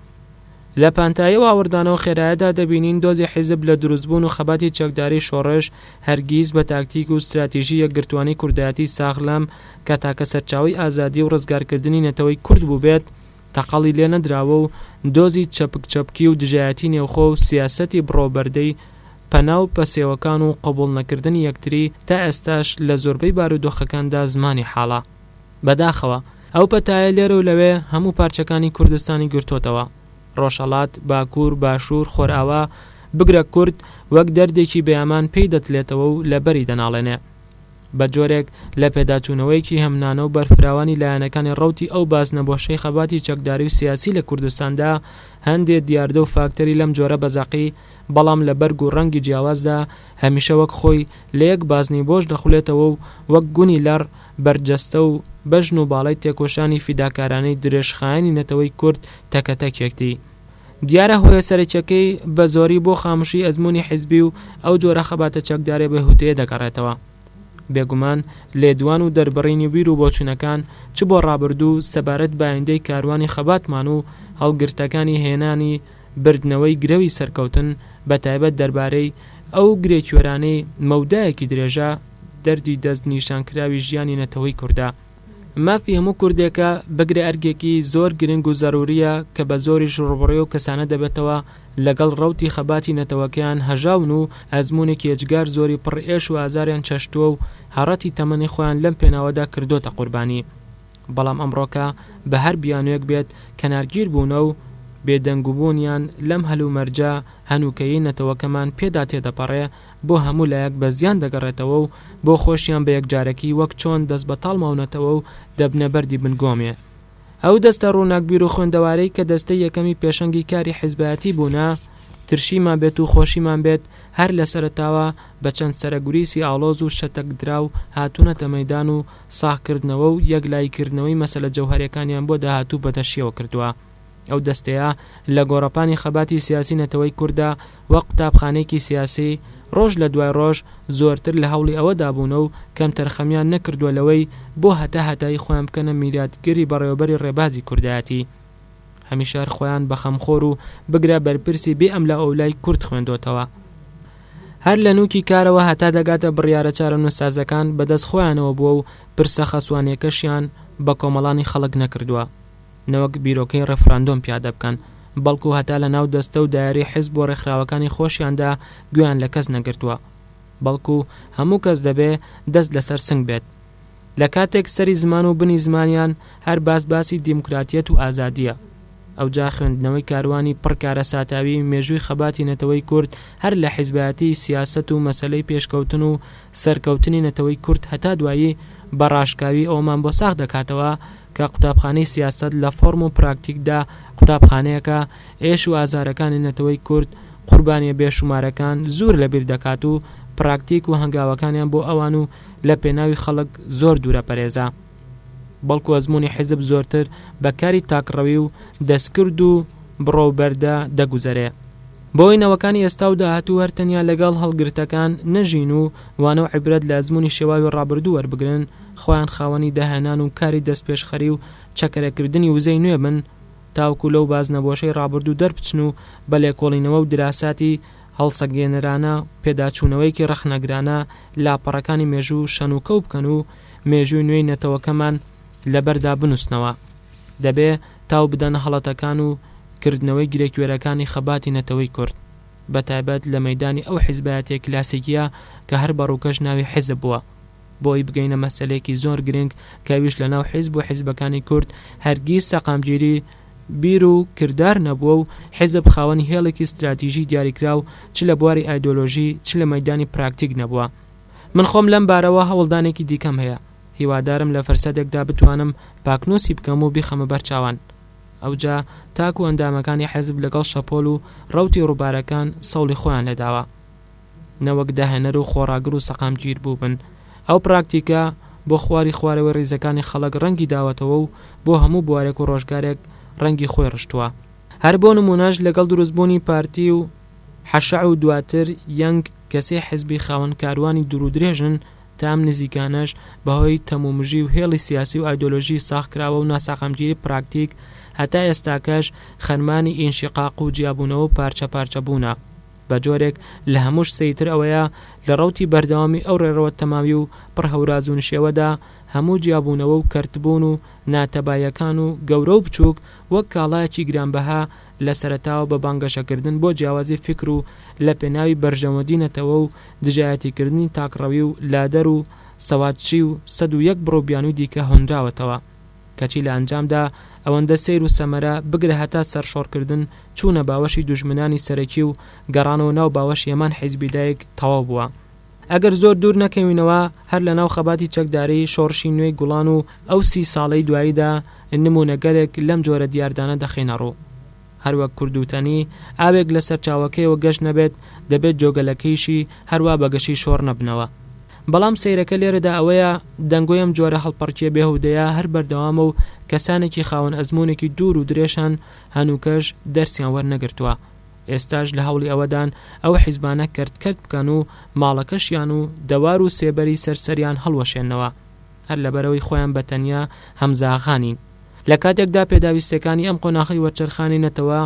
لە پانتایی واوڕدانە و خێرایەدا دەبینین دۆزی حیزب لە دروستبوون و خەباتی چەکداریی شۆڕش، هەرگیز بە تاکتیک و ستراتیژی یەکگرتووانی کوردایەتیی ساغ لەم، کە تاکە سەرچاوەی ئازادی و ڕزگارکردنی نەتەوەی کورد بووبێت، تەقەڵی لێ نەدراوە و دۆزی چەپک چەپکی و دژایەتیی نێوخۆ و سیاسەتی بڕە و بەردەی پەنا و پەسێوەکان و قبووڵنەکردنی یەکتری، تا ئێستاش لە زۆربەی بارودۆخەکاندا زمانی حاڵە. بەداخەوە ئەو پەتایە لێرە و لەوێ هەموو پارچەکانی کوردستانی گرتۆتەوە، ڕۆژهەڵات، باکوور، باشوور، خۆرئاوا، بگرە کورد وەک دەردێکی بێئەمان پێی دەتلێتەوە و لەبەری دەناڵێنێ. بە جۆرێک لە پێداچوونەوەیەکی هەمنانە و بەرفراوانی لایەنەکانی ڕەوتی ئەو بازنە بۆشەی خەباتی چەکداری و سیاسی لە کوردستاندا هەندێ دیاردە و فاکتەری لەم جۆرە بە زەقی بەڵام لە بەرگ و ڕەنگی جیاوازدا هەمیشە وەک خۆی لە یەک بازنەی بۆش دەخولێتەوە و وەک گونی لەڕ بەرجەستە و بەژن و باڵای تێکۆشانی فیداکارانەی درێژخایەنی نەتەوەی کورد تەکە تەکێکتی. دیارە هۆیە سەرەکیەکەی بە زۆری بۆ خاموشی ئەزمونی حیزبی و ئەو جۆرە خەباتە چەکدارە بێهوتەیە دەگەڕێتەوە. بێگومان لێدوان و دەربڕینی بیر و بۆچونەکان چ بۆ ڕابردوو سەبارەت بە ئایندەی کاروانی خەباتمان و هەڵگرتەکانی هێنانی بردنەوەی گرەوی سەرکەوتن، بەتایبەت دەربارەی ئەو گرێکوێرانەی مەودایەکی درێژە دەردی دەست نیشان کراوی ژیانی نەتەوەی کوردە. مافی هەموو کوردێکە بگرە ئەرکێکی زۆر گرنگ و زەروریە کە بە زۆریش ڕوبڕوی ئەو کەسانە دەبێتەوە لەگەڵ ڕەوتی خەباتی نەتەوەکەیان هەژاون و ئەزمونێکی ئێجگار زۆری پڕ ئێش و ئازاریان چەشتووە و هەڕەتی تەمەنی خۆیان لەم پێناوەدا کردۆتە قوربانی. بەڵام ئەمڕۆکە بە هەر بیانوێک بێت کەنارگیر بوونە و بێ دەنگ بوونیان لەم هەلومەرجە هەنووکەیی نەتەوەکەمان پێدا تێدەپەڕێ بۆ هەموو لایەک بە زیان دەگەڕێتەوە و بۆ خۆشیان بە یەکجارەکی وەک چۆن دەست بەتاڵ ماونەتەوە و دەبنە بەردی بن گۆمێ. ئەو دەستە ڕووناکبیر و خوێندەوارەی کە دەستەی یەکەمی پێشەنگی کاری حیزبایەتی بوونە، ترشیمان بێت و خۆشیمان بێت هەر لە سەرەتاوە بە چەند سەرەگوریسی ئاڵۆز و شەتەک دراو هاتوونەتە مەیدان و ساغکردنەوە و یەکلاییکردنەوەی مەسەلە جەوهەریەکانیان بۆ داهاتوو بەدەشیەوە کردوە. ئەو دەستەیە لە گۆڕەپانی خەباتی سیاسی نەتەوەی کورددا وەک قوتابخانەیەکی سیاسی، ڕۆژ لە دوای ڕۆژ زۆرتر لە هەوڵی ئەوەدا بوونە و کەمتر خەمیان نەکردوە لەوەی بۆ هەتا هەتایی خۆیان بکەنە میراتگری بەڕێوەبەری ڕێبازی کوردایەتی. هەمیشە هەر خۆیان بە خەمخۆر و بگرە بەرپرسی بێ ئەم لە ئەولای کورد خوێندۆتەوە هەر لە نوکی کارەوە هەتا دەگاتە بڕیارە چارە نوسازەکان بەدەست خۆیانەوە بووە و پرسە خەسوانەکەشیان بە کۆمەڵانی خەڵک نەکردووە نەوەک بیرۆکەی ڕفراندۆم پیادە بکەن بەڵکو هەتا لە ناو دەستە و دایری حیز بۆ ڕێکخراوەکانی خۆشیاندا گویان لە کەس نەگرتووە بەڵکو هەموو کەس دەبێ دەست لەسەر سنگ بێت لە کاتێک سەری زمان و بنی زمانیان هەر باس باسی دیموکراتیەت و ئازادیە ئەوجا خوێندنەوەی کاروانی پڕ کارەساتاوی مێژووی خەباتی نەتەوەی کورد هەر لە حیزبایەتی سیاسەت و مەسەلەی پێشکەوتن و سەرکەوتنی نەتەوەی کورد هەتا دوایی بە ڕاشکاوی ئەوەمان بۆ ساغ دەکاتەوە کە قوتابخانەی سیاسەت لە فۆرم و پراکتیکدا قوتابخانەیەکە ئێش و ئازارەکانی نەتەوەی کورد قوربانیە بێ شومارەکان زوور لە بیر دەکات و پراکتیک و هەنگاوەکانیان بۆ ئەوان و لە پێناوی خەڵک زۆر دوورە پەرێزە، بەڵکو ئەزموونی حیزب زۆرتر بە کاری تاکڕەوی و دەستکرد و بڕە و بەردە دەگوزەرێ. بۆیە نەوەکانی ئێستا و داهاتوو هەر تەنیا لەگەڵ هەڵگرتەکان نەژین و وانە و عیبرەت لە ئەزموونی شێواوی ڕابردوو وەربگرن، خۆیان خاوەنی داهێنان و کاری دەستپێشخەری و چەکەرەکردنی وزەی نوێ بن، تاوەکو لەو بازنەبۆشەی ڕابردوو دەربچن و بە لێکۆڵینەوە و دراساتی هەڵسەنگێنەرانە، پێداچوونەوەیەکی ڕەخنەگرانە لاپەڕەکانی مێژوو شەنوکەو بکەن و مێژووی نوێی نەتەوەکەمان لەبەردا بنووسنەوە. دەبێ تاو بدەن هەڵەتەکان و کردنەوەی گرێکوێرەکانی خەباتی نەتەوەی کورد، بەتایبەت لە مەیدانی ئەو حیزبایەتیە کلاسیکیە کە هەر بە ڕووکەش ناوی حیزب بووە. بۆی بگەینە مەسەلەیەکی زۆر گرنگ کە ئەویش لەناو حیزب و حیزبەکانی کورد هەرگیز سەقامگیری بیر و کردار نەبووە و حیزب خاوەنی هێڵێکی ستراتیژی دیاریکراو چ لە بواری ئایدۆلۆژی چ لە مەیدانی پراکتیک نەبووە. من خۆم لەم بارەوە هەوڵدانێکی دیکەم هەیە هیوادارم لە فرسەتێکدا بتوانم پاکنووسی بکەم و بیخەمە بەر چاوان ئەوجا تاکو ئەندامەکانی حیزب لەگەڵ شەپۆل و ڕەوتی ڕووبارەکان سەوڵی خۆیان لێداوە نەوەک داهێنەر و خۆڕاگر و سەقامگیر بووبن. ئەو پراکتیکە بۆ خواری خوارەوەی ڕیزەکانی خەڵک ڕەنگی داوەتەوە و بۆ هەموو بوارێک و ڕۆژگارێک ڕەنگی خۆی ڕشتووە. هەر بۆ نموونەش لەگەڵ دروستبوونی پارتی و حەشع و دواتر یەنگ کە سێ حزبی خاوەن کاروانی دوور و درێژن تا ئەم نزیکانەش بەهۆی تەمومژی و هێڵی سیاسی و ئایدۆلۆژی ساغکراوە و ناسەقامگیری پراکتیک هەتا ئێستاکەش خەرمانی ئینشیقاق و جیابوونەوە و پارچەپارچەبوونە. بە جۆرێک لە هەمووش سەیتر ئەوەیە لە ڕەوتی بەردەوامی ئەو ڕێڕەوە تەماوی و پڕ هەورازو نشێوەدا هەموو جیابوونەوە و کەرتبوون و ناتەباییەکان و گەورە و بچووک وەک کاڵایەکی گرانبەها لە سەرەتاوە بە بانگەشەکردن بۆ جیاوازی فیکر و لە پێناوی بەرژەوەندی نەتەوە و دژایەتیکردنی تاکڕەوی و لادەر و سەوادچی و سەد و یەک بڕو بیانووی دیکە هۆنراوەتەوە. کەچی لە ئەنجامدا ئەوەندە سەیر و سەمەرە بگرە هەتا سەرشۆڕکردن چوونە باوەشی دوژمنانی سەرەکی و گەڕانەوە ناو باوەشی هەمان حیزبی دایک تەواو بووە. ئەگەر زۆر دوور نەکەوینەوە هەر لە ناو خەباتی چەکداری شۆڕشی نوێی گوڵان و ئەو سی ساڵەی دواییدا نموونەگەلێک لەم جۆرە دیاردانە دەخەینە ڕوو. هەروەک کوردوتەنی، ئاوێک لە سەرچاوەکەیەوە گەش نەبێت، دەبێت جۆگەلەکەیشی هەروا بە گەشی شۆڕ نەبنەوە. بەڵام سەیرەکە لێرەدا ئەوەیە، دەنگۆی ئەم جۆرە هەڵپەڕکێ بێهودەیە هەر بەردەوامە و کەسانێکی خاوەن ئەزموونێکی دوور و درێژان هەنووکەش دەرسیان وەرنەگرتووە، ئێستاش لە هەوڵی ئەوەدان ئەو حیزبانە کەرت کەرت بکەن و ماڵەکەشیان و دەوار و سێبەری سەر سەریان هەڵوەشێننەوە. هەر لەبەرئەوەی خۆیان بە تەنیا هەمزاغا نین. لە کاتێکدا پێداویستیەکانی ئەم قۆناخەی وەرچەرخانی نەتەوە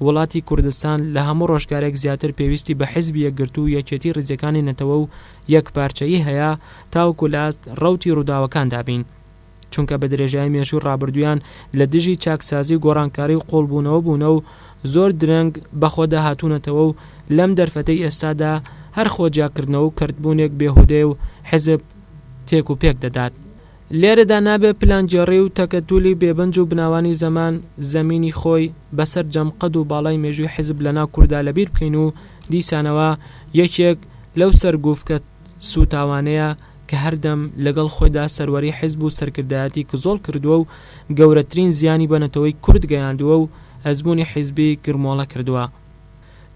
وڵاتی کوردستان لە هەموو ڕۆژگارێک زیاتر پێویستی بە حیزبی یەکگرتوو و یەکێتی ڕیزەکانی نەتەوە و یەک پارچەیی هەیە تاوەکو لە ئاست ڕەوتی ڕووداوەکاندا بین چونکە بە درێژایی مێژوو ڕابردوویان لە دژی چاکسازی و گۆڕانکاری و قوڵبوونەوە بوونە و زۆر درەنگ بە خۆدا هاتوونەتەوە و لەم دەرفەتەی ئێستادا هەر خۆ جیاکردنەوە و کەرتبوونێک بێهودەیە و حیزب تێک و پێک دەدات. لێرەدا نابێ پلانگێڕی و تەکەتولی بێبنج و بناوانی زەمان، زەمینی خۆی، بە سەرجەم قەد و باڵای مێژووی حیزب لە ناو کوردا لە بیر بکەین و دیسانەوە یەکێک لەو سەرگوفکە سووتاوانەیە کە هەردەم لەگەڵ خۆیدا سەروەری حیزب و سەرکردایەتی کزۆڵ کردووە و گەورەترین زیانی بە نەتەوەی کورد گەیاندووە و ئەزموونی حیزبی گرمۆڵە کردووە.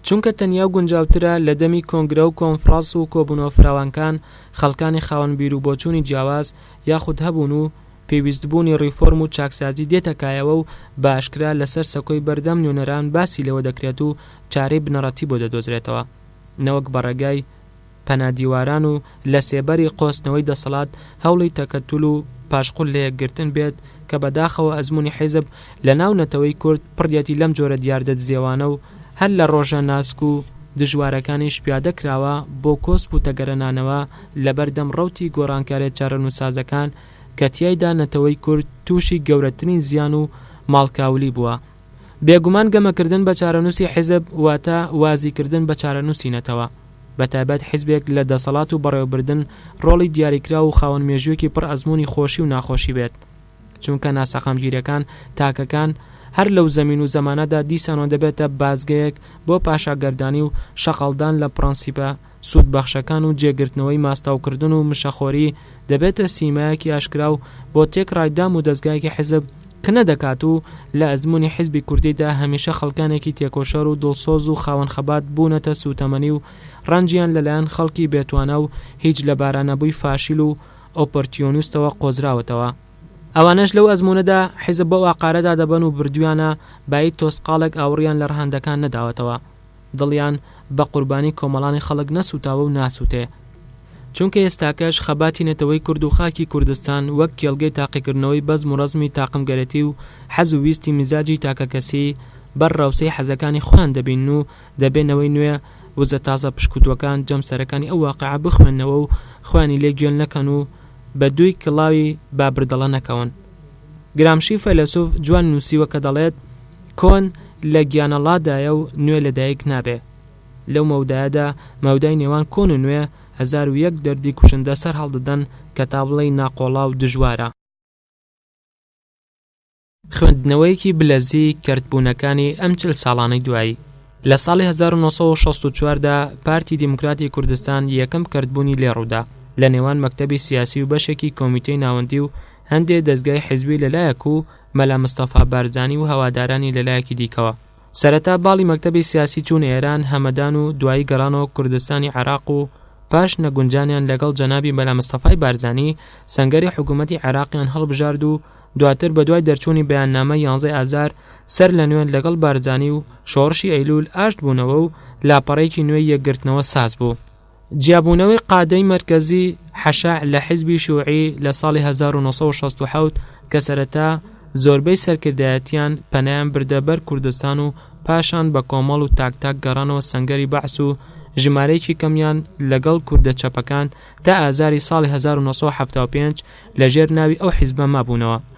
چونکە تەنیا و گونجاوترە لە دەمی کۆنگرە و کۆنفڕاس و کۆبونەوە فراوانکان خەڵکانی خاوەن بیر و بۆچونی جیاواز یاخود هەبون و پێویست بونی ڕیفۆرم و چاکسازی دێتە کایەوە و بە ئاشکرا لە سەر سەکۆی بەردەم نوێنەران باسی لەوە دەکرێت و چارەی بنەڕەتی بۆ دەدۆزرێتەوە نەوەک بە ڕێگای پەنا دیواران و لە سێبەری قۆستنەوەی دەسەڵات هەوڵی تەکەتول و پاشقول لە یەکگرتن بێت کە بەداخەوە ئەزمونی حیزب لە ناو نەتەوەی کورد پڕیەتی لەم جۆرە دیاردە دزێوانە و هەر لە ڕۆژە ناسک و دژوارەکانیش پیادە کراوە بۆ کۆسپ و تەگەرەنانەوە لە بەر دەم ڕەوتی گۆڕانکاریە چارەنوسسازەکان کە تیایدا نەتەوەی کورد توشی گەورەترین زیان و ماڵکاولی بوە. بێگومان گەمەکردن بە چارەنووسی حیزب واتە وازیکردن بە چارەنووسی نەتەوە، بەتایبەت حیزبێک لە دەسەڵات و بەڕێوەبردن ڕۆڵی دیاریکراو و خاوەن مێژووێکی پڕ ئەزموونی خۆشی و ناخۆشی بێت، چونکە ناسەقامگیرییەکان، تاکەکان، هەر لەو زەمین و زەمانەدا دیسانەوە دەبێتە بازگەیەک بۆ پاشاگەردانی و شەقڵدان لە پڕەنسیپە سوودبەخشەکان و جێگرتنەوەی ماستاوکردن و مشەخۆری دەبێتە سیمایەکی ئاشکرا و بۆ تێکڕای دام و دەزگایەکی حیزب کنە دەکات و لە ئەزموونی حیزبی کوردیدا هەمیشە خەڵکانێکی تێکۆشەر و دڵسۆز و خاوەن خەبات بوونەتە سووتەمەنی و ڕەنجیان لەلایەن خەڵکی بێتوانا و هیچ لەبارانەبووی فاشیل و ئۆپۆرتیۆنستەوە قۆزراوەتەوە. ئەوانەش لەو ئەزموونەدا حیزب بەو ئاقارەدا دەبەن و بردوویانە بایی تۆسقاڵێک ئاوڕیان لە ڕەهەندەکان نەداوەتەوە. دڵیان بە قوربانی کۆمەڵانی خەڵک نەسووتاوە و ناسووتێ. چونکە ئێستاکەش خەباتی نەتەوەی کورد و خاکی کوردستان وەک کێڵگەی تاقیکردنەوەی بەزم و ڕەزمی تاقمگەرێتی و حەز و ویستی میزاجی تاکەکەسی بەر ڕەوسەی حەزەکانی خۆیان دەبینن و دەبێ نەوەی نوێ وزە تازە پشکوتووەکان جەمسەرەکانی ئەو واقعە بخوێننەوە و خۆیانی لێ گێل نەکەن و بە دووی کڵاوی بابردەڵە نەکەون. گرامشی فەیلەسوف جوان نووسیوە کە دەڵێت، کۆن لە گیانەڵادایە و نوێ لە دایک نابێ. لەو مەودایەدا، مەودای نێوان کۆن و نوێ، هەزار و یەک دەردی کوشندە سەر هەڵدەدەن کە تا بڵێی ناقۆڵا و دژوارە. خوێندنەوەیەکی بلەزی کەرتبوونەکانی ئەم چل ساڵانەی دوایی، لە ساڵی هەزار و نۆ سەد و شەست و چوار دا پارتی دیموکراتی کوردستان یەکەم کەرتبوونی لێ ڕوودا لە نێوان مەکتەبی سیاسی و بەشێکی کۆمیتەی ناوەندی و هەندێ دەزگای حیزبی لە لایەک و مەلا مستەفا بارزانی و هەوادارانی لە لایەکی دیکەوە، سەرەتا باڵی مەکتەبی سیاسی چوونە ئێران، هەمەدان و دوایی گەڕانەوە کوردستانی عێراق و پاش نەگونجانیان لەگەڵ جەنابی مەلا مستەفای بارزانی، سەنگەری حکوومەتی عێراقیان هەڵبژارد و دواتر بە دوای دەرچوونی بەیاننامەی یانزەی ئازار سەر لە نوێ لەگەڵ بارزانی و شۆڕشی ئەیلوول ئاشت بوونەوە و لاپەڕەیەکی نوێی یەکگرتنەوە ساز بوو. جیابوونەوەی قادەی مەرکەزی حەشع لە حیزبی شوعی لە ساڵی هەزار و نۆ سەد و شەست و حەوت کە سەرەتا زۆربەی سەرکردایەتیان پەنایان بردە بەر کوردستان و پاشان بە کۆمەڵ و تاک تاک گەڕانەوە سەنگەری بەعس و ژمارەیەکی کەمیان لەگەڵ کوردە چەپەکان تا ئازاری ساڵی هەزار و نۆ سەد و حەفتا و پێنج لە ژێر ناوی ئەو حیزبە مابوونەوە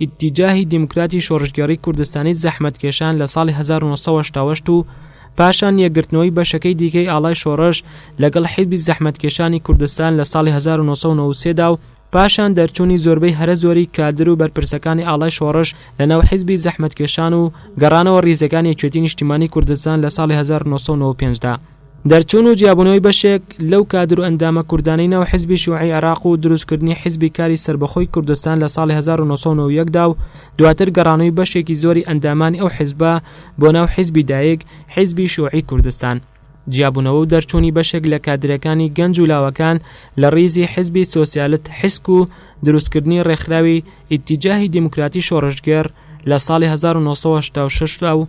ئیتیجاهی دیموکراتی شۆڕشگێڕی کوردستانی زەحمەتکێشان لە ساڵی 1970 و پاشان یەکگرتنەوەی بەشەکەی دیکەی ئاڵای شۆڕش لەگەڵ حیزبی زەحمەتکێشانی کوردستان لە ساڵی 1993 دا و پاشان دەرچوونی زۆربەی هەرە زۆری کادر و بەرپرسەکانی ئاڵای شۆڕش لە ناو حیزبی زەحمەتکێشان و گەڕانەوە ڕیزەکانی یەکێتی نیشتیمانی کوردستان لە ساڵی 1995 دا. دەرچوون و جیابوونەوەی بەشێک لەو کادر و ئەندامە کوردانەی ناو حیزبی شیوعی عێراق و دروستکردنی حیزبی کاری سەربەخۆی کوردستان لە ساڵی هەزار و نۆ سەد و نەوە و یەک دا و دواتر گەڕانەوەی بەشێکی زۆری ئەندامانی ئەو حیزبە بۆ ناو حیزبی دایک، حیزبی شیوعی کوردستان. جیابوونەوە و دەرچوونی بەشێک لە کادرەکانی گەنج و لاوەکان لە ڕیزی حیزبی سۆسیالت حسک و دروستکردنی ڕێکخراوی ئیتیجاهی دیموکراتی شۆڕشگێڕ لە ساڵی هەزار و نۆ سەد و هەشتا و شەش دا و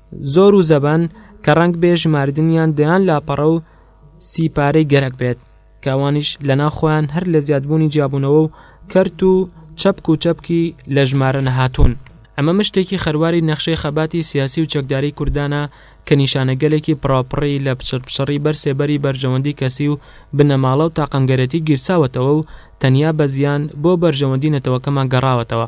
زۆر و زەبەن کە ڕەنگ بێ ژماردنیان دەیان لاپەڕە و سی پارەی گەرەک بێت کە ئەوانیش لە ناو خۆیان هەر لە زیادبوونی جیابوونەوە و کەرت و چەپک و چەپکی لە ژمارە نەهاتوون ئەمە مشتێکی خەرواری نەخشەی خەباتی سیاسی و چەکداری کوردانە کە نیشانەگەلێکی پڕاوپڕی لە پچڕپچڕی بەر سێبەری بەرژەوەندی کەسی و بنەماڵە و تاقمگەرێتی گیرساوەتەوە و تەنیا بە زیان بۆ بەرژەوەندی نەتەوەکەمان گەڕاوەتەوە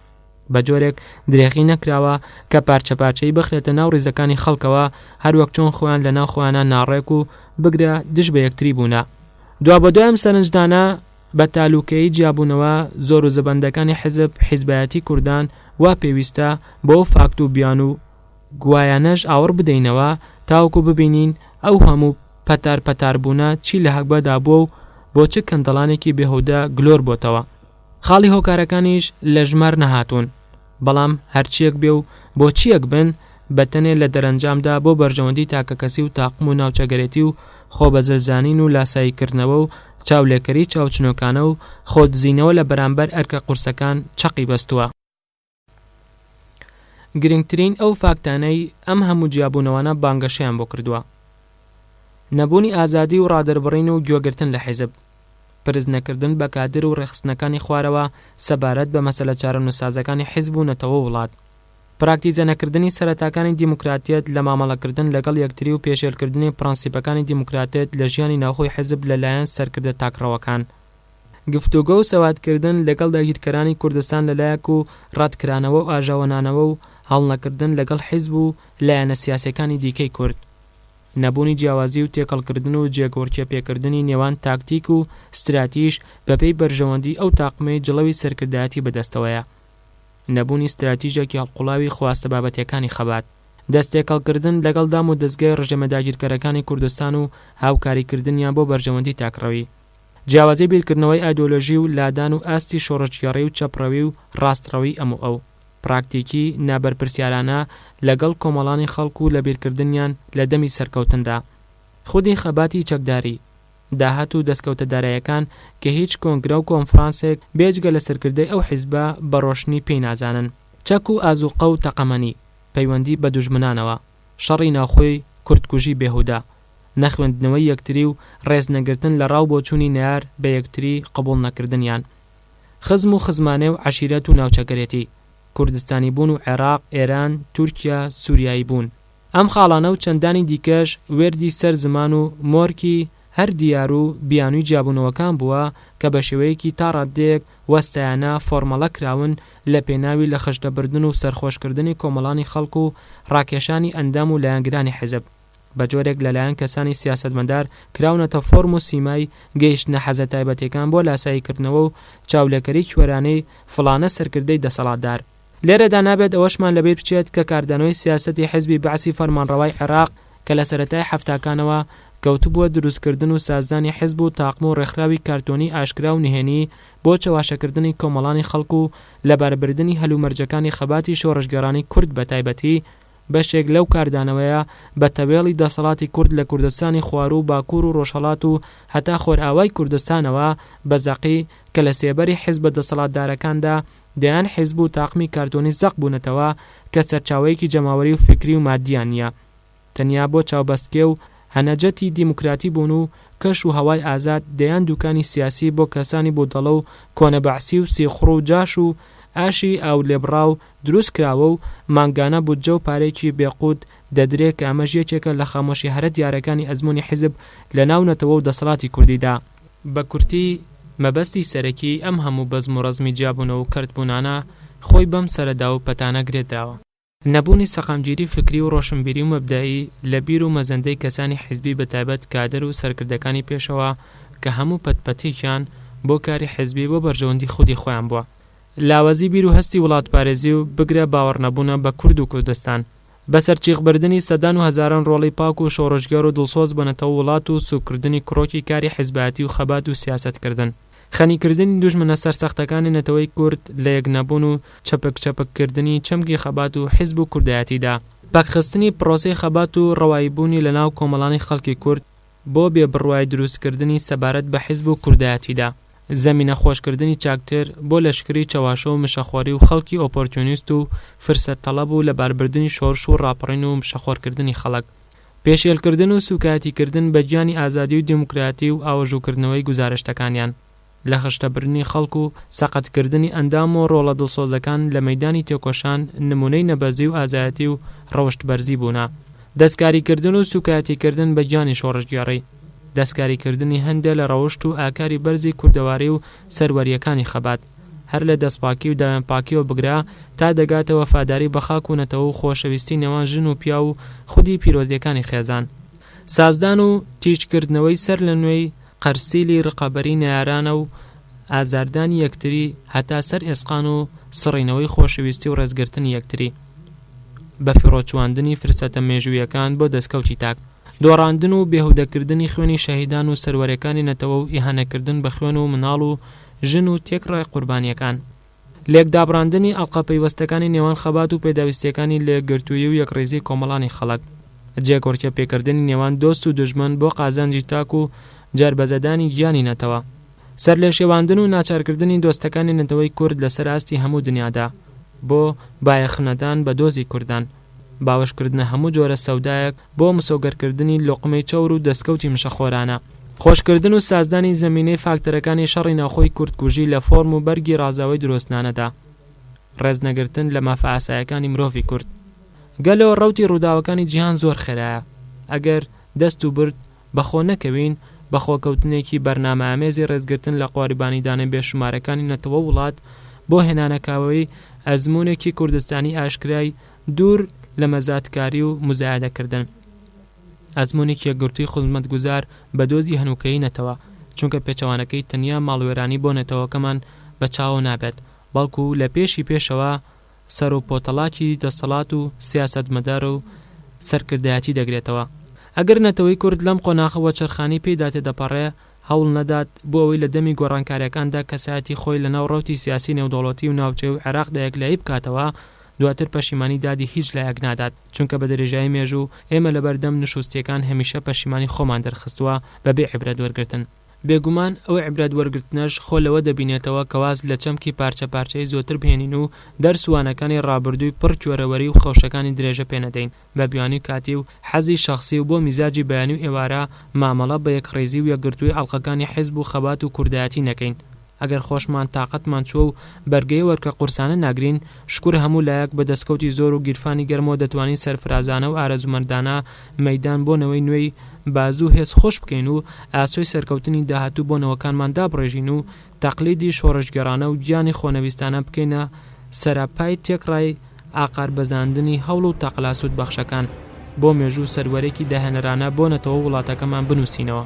بە جۆرێک درێغی نەکراوە کە پارچە پارچەی بخرێتە ناو ڕیزەکانی خەڵکەوە هەروەک چۆن خۆیان لە ناو خۆیانە ناڕێک و بگرە دژ بە یەکتری بوونە دوا بە دوای ئەم سەرنجدانە بە تالوکەی جیابوونەوە زۆر و زەبەندەکانی حزب حیزبایەتی کوردان وا پێویستە بۆ فاکت و بیان و گوایانەش ئاوڕ بدەینەوە تاوەکو ببینین ئەو هەموو پەتار پەتاربوونە چی لە هەگبەدا بووە و بۆ چ کەندەڵانێکی بێهودە گلۆر بۆتەوە خاڵی هۆکارەکانیش لە ژمار نەهاتوون، بەڵام هەرچییەک بێ و بۆ چییەک بن، بەتەنێ لە دەرەنجامدا بۆ بەرژەوەندیی تاکەکەسی و تاقم و ناوچەگەرێتی و خۆ بە زل زانین و لاساییکردنەوە و چاولێکەریی چاوچنۆکانە و خۆدزینەوە لە بەرامبەر ئەرکە قورسەکان چەقی بەستووە. گرنگترین ئەو فاکتانەی ئەم هەموو جیابوونەوانە بانگەشەیان بۆ کردووە، نەبوونی ئازادی و ڕادەربڕین و گوێگرتن لە حیزب، پرس نەکردن بە کادر و ڕێکخستنەکانی خوارەوە سەبارەت بە مەسەلە چارەنووسسازەکانی حیزب و نەتەوە و وڵات، پراکتیزە نەکردنی سەرەتاکانی دیموکراتیەت لە مامەڵەکردن لەگەڵ یەکتری و پێشێلکردنی پڕەنسیپەکانی دیموکراتیەت لە ژیانی ناوخۆی حیزب لە لایەن سەرکردە تاکڕەوەکان. گفتوگۆ و سەوادکردن لەگەڵ داگیرکەرانی کوردستان لەلایەک و ڕەتکرانەوە و ئاژاوەنانەوە و هەڵنەکردن لەگەڵ حیزب و لایەنە سیاسیەکانی دیکەی کورد. نەبوونی جیاوازی و تێکەڵکردن و جێگۆڕکێپێکردنی نێوان تاکتیک و ستراتیژ بەپێی بەرژەوەندی ئەو تاقمەی جڵەوی سەرکردایەتی بەدەستەوەیە. نەبوونی ستراتیژێکی هەڵقوڵاوی خواستە بابەتیەکانی خەبات. دەستتێکەڵکردن لەگەڵ دام و دەزگای ڕژێمە داگیرکەرەکانی کوردستان و هاوکاریکردنیان بۆ بەرژەوەندی تاکڕەوی. جیاوازی بیرکردنەوەی ئایدۆلۆژی و لادان و ئاستی شۆڕشگێڕی و چەپڕەوی و ڕاستڕەوی ئەم و ئەو، پراکتیکی نابەرپرسیارانە لەگەڵ کۆمەڵانی خەڵک و لەبیرکردنیان لە دەمی سەرکەوتندا. خودی خەباتی چەکداری. داهات و دەستکەوتە دارایەکان کە هیچ کۆنگرە و کۆنفڕانسێک بێجگە لە سەرکردەی ئەو حیزبە بە ڕۆشنی پێی نازانن. چەک و ئازووقە و تەقەمەنی. پەیوەندی بە دوژمنانەوە. شەڕی ناوخۆی کوردکوژی بێهودە، نەخوێندنەوەی یەکتری و ڕێز نەگرتن لە ڕاو بۆچوونی نەیار بە یەکتری قبوڵ نەکردنیان. خزم و خزمانێ و عەشیرەت و ناوچەگەرێتی، کوردستانی بوون و عێراق، ئێران، تورکیا، سوریایی بوون. ئەم خاڵانە و چەندانی دیکەش وێردی سەر زمان و مۆرکی هەر دیار و بیانووی جیابوونەوەکان بووە کە بە شێوەیەکی تا ڕاددەیەک وەستایانە فۆرمەڵە کراون لە پێناوی لە خشتە بردن و سەرخۆشکردنی کۆمەڵانی خەڵک و ڕاکێشانی ئەندام و لایەنگرانی حیزب بە جۆرێک لە لایەن کەسانی سیاسەتمەدار کراونەتە فۆرم و سیمای گەیشتنە حەزە تایبەتیەکان بۆ لاسایی کردنەوە و چاولێکەری کوێرانەی فڵانە سەرکردەی دەسەڵاتدار. لێرەدا نابێت ئەوەشمان لەبیر بچێت کە کاردانەوەی سیاسەتی حزبی بەعسی فەرمانڕەوای عێراق کە لە سەرەتای حەفتاکانەوە کەوتبووە دروستکردن و سازدانی حزب و تاقم و ڕێکخراوی کارتۆنی ئاشکرا و نهێنی بۆ چەواشەکردنی کۆمەڵانی خەڵک و لەباربردنی هەلومەرجەکانی خەباتی شۆڕشگێڕانی کورد بەتایبەتی بەشێک لەو کاردانەوەیە بە تەوێڵی دەسەڵاتی کورد لە کوردستانی خواروو و باکوور و ڕۆژهەڵات و هەتا خۆرئاوای کوردستانەوە بە زەقی کە لە سێبەری حزبە دەسەڵاتدارەکاندا دەیان حیزب و تاقمی کارتۆنی زەق بوونەتەوە کە سەرچاوەیەکی جەماوەری و فیکری و ماددیان نییە تەنیا بۆ چاوبەستکێ و هەنەجەتی دیموکراتی بوون و کەش و هەوای ئازاد دەیان دووکانی سیاسی بۆ کەسانی بودەڵە و کۆنە بەعسی و سیخوڕ و جاش و ئاشی ئاو لێبڕاو دروست کراوە و مانگانە بودجە و پارەیەکی بێ قووت دەدرێ کە ئەمەش یەکێکە لە خامۆشی هەرە دیارەکانی ئەزموونی حیزب لە ناو نەتەوە و دەسەڵاتی کوردیدا. بە کورتی، مەبەستی سەرەکیی ئەم هەموو بەزم و ڕەزمی جیابوونەوە و کەرتبوونانە، خۆی بەم سەرەداو و پەتانە گرێدراوە. نەبوونی سەقامگیریی فکری و ڕۆشنبیری و مەبدەئی لە بیر و مەزەندەی کەسانی حیزبی بە تایبەت کادر و سەرکردەکانی پێشەوا کە هەموو پەت پەتێکیان بۆ کاری حیزبی بۆ بەرژەوەندی خودی خۆیان بووە لاوازی بیر و هەستی وڵاتپارێزی و بگرە باوەڕنەبوونە بە کورد و کوردستان بە سەرچیخ بردنی سەدان و هەزاران ڕۆڵەی پاک و شۆڕشگێڕ و دڵسۆز بۆ نەتەوەو وڵات و سوک کردنی کڕۆکی کاری حیزبایەتی و خەبات و سیاسەت کردن خەنی کردنی دوژمنە سەرسەختەکانی نەتەوەی کورد لە یەک نەبوون و چەپک چەپک کردنی چەمکی خەبات و حیزب و کوردایەتی دا پەکخستنی پڕۆسەی خەبات و ڕەوایی بوونی لە ناو کۆمەڵانی خەڵکی کورد بۆ بێ بڕوای دروست کردنی سەبارەت بە حیزب و کوردایەتیدا، زەمینە خۆش کردنی چاکتر بۆ لەشکری چەواشە و مشەخۆری و خەڵکی ئۆپۆرتیونیست و فرسەت تەڵەب و لەبار بردنی شۆرش و ڕاپەڕین و مشەخۆر کردنی خەڵک پێشێل کردن و سوکایەتی کردن بە گیانی ئازادی و دیموکراتی و ئاوەژوو کردنەوەی گوزارشتەکانیان لە خشتەبردنی خەڵک و سەقەتکردنی ئەندام و ڕۆڵە دڵسۆزەکان لە مەیدانی تێکۆشان نموونەی نەبەزی و ئازایەتی و ڕەوشتبەرزی بوونە. دەستکاریکردن و سووکایەتیکردن بە گیانی شۆڕشگێڕی، دەستکاریکردنی هەندێ لە ڕەوشت و ئاکاری بەرزی کوردەواری و سەروەرییەکانی خەبات، هەر لە دەستپاکی و داوێنپاکییەوە بگرە تا دەگاتە وەفاداری بە خاک و نەتەوە و خۆشەویستی نێوان ژن و پیاو و خودی پیرۆزییەکانی خێزان، سازدان و تیژکردنەوەی سەرلەنوێی قەرسیلی رقەبەری نەیارانە و ئازاردانی یەکتری هەتا سەر ئێسقان و سڕینەوەی خۆشەویستی و رێزگرتنی یەکتری بە فیڕۆچوواندنی فرسەتە مێژوویەکان بۆ دەسکەوتی تاک. دۆڕاندن و بێهودەکردنی خوێنی شەهیدان و سەروەرەکانی نەتەوە و ئیهانەکردن بە خوێن و مناڵ و ژن و تێکڕای قوربانیەکان. لێکدابڕاندنی ئەڵقە پەیوەستەکانی نێوان خەبات و پێداویستییەکانی لێکگرتوویی و یەکڕیزی کۆمەڵانی خەڵک. جێکۆرکێ پێکردنی نێوان دۆست و دوژمن بۆ قازانجی تاک و جەربەزەدانی گیانی نەتەوە. سەرلێشێواندن و ناچارکردنی دۆستەکانی نەتەوەی کورد لەسەر ئاستی هەموو دنیادا بۆ بایەخنەدان بە دۆزی کوردان. باوەشکردنە هەموو جۆرە سەودایەک بۆ مسۆگەرکردنی لوقمەی چەور و دەستکەوتی مشەخۆرانە. خۆشکردن و سازدانی زەمینەی فاکتەرەکانی شەڕی ناوخۆی کوردکوژی لە فۆرم و بەرگی ڕازاوەی درۆزنانەدا. ڕێزنەگرتن لە مافە ئاسایەکانی مرۆڤی کورد. گەلۆ ڕەوتی ڕووداوەکانی جیهان زۆر خێرایە. ئەگەر، دەست و برد، بە خۆ نەکەوین، بە خۆکەوتنێکی بەرنامەئامێزی ڕێزگرتن لە قۆریبانیدانە بێشومارەکانی نەتەوەو وڵات بۆ هێنانەکاوەیی ئەزموونێکی کوردستانی ئاشکرای دوور لە مەزاتکاری و موزایەدەکردن ئەزموونێکی یەکگرتووی خزمەتگوزار بە دۆزی هەنووکەیی نەتەوە چونکە پێچەوانەکەی تەنیا ماڵوێرانی بۆ نەتەوەکەمان بە چاوەوە نابێت بەڵکو لە پێشی پێشەوە سەر و پۆتەڵاکی دەسەڵات و سیاسەتمەدار و سەرکردایەتی دەگرێتەوە. ئەگەر نەتەوەی کورد لەم قۆناخە وەچەرخانی پێیدا تێدەپەڕێ، هەوڵ نەدات بۆ ئەوەی لە دەمی گۆڕانکاریەکاندا کەسایەتی خۆی لە ناو ڕەوتی سیاسی نێودەوڵەتی و ناوچەیی و عێراقدا یەکلایی بکاتەوە، دواتر پەشیمانی دادی هیچ لایەک نادات، چونکە بە درێژایی مێژوو ئێمە لەبەردەم نشوستیەکان هەمیشە پەشیمانی خۆمان دەرخستووە بەبێ عیبرەت وەرگرتن. بێگومان ئەو عیبرەت وەرگرتنەش خۆ لەوە دەبینێتەوە کە واز لە چەمکی پارچە پارچەی زۆتر بهێنین و دەرس و وانەکانی ڕابردووی پڕ کۆرەوەری و خەوشەکانی درێژە پێ نەدەین بە بیانووی کاتی و حەزی شەخسی و بۆ میزاجی بەیانی و ئێوارە مامەڵە بە یەکڕیزی و یەکگرتووی ئەڵقەکانی حیزب و خەبات و کوردایەتی نەکەین ئەگەر خۆشمان تاقەتمان چووە و بەرگەی ئەوەرکە قورسانە ناگرین، شکور هەموو لایەک بە دەسکەوتی زۆر و گیرفانی گەرمەوە دەتوانین سەرفرازانە و ئارەزوومەندانە مەیدان بۆ نەوەی نوێی بازوو و هێز خۆش بکەین و ئاسۆی سەرکەوتنی داهاتوو بۆ نەوەکانمان دابڕێژین و تەقلیدی شۆڕشگێڕانە و گیانی خۆنەویستانە بکەینە سەراپای تێکڕای ئاقار بەزاندنی هەوڵ و تەقلا سوودبەخشەکان بۆ مێژوو و سەروەرێکی داهێنەرانە بۆ نەتەوە و وڵاتەکەمان بنووسینەوە.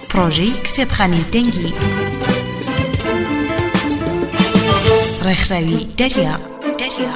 پڕۆژەی کتێبخانەی دەنگی ڕێکخراوی دەریا دەریا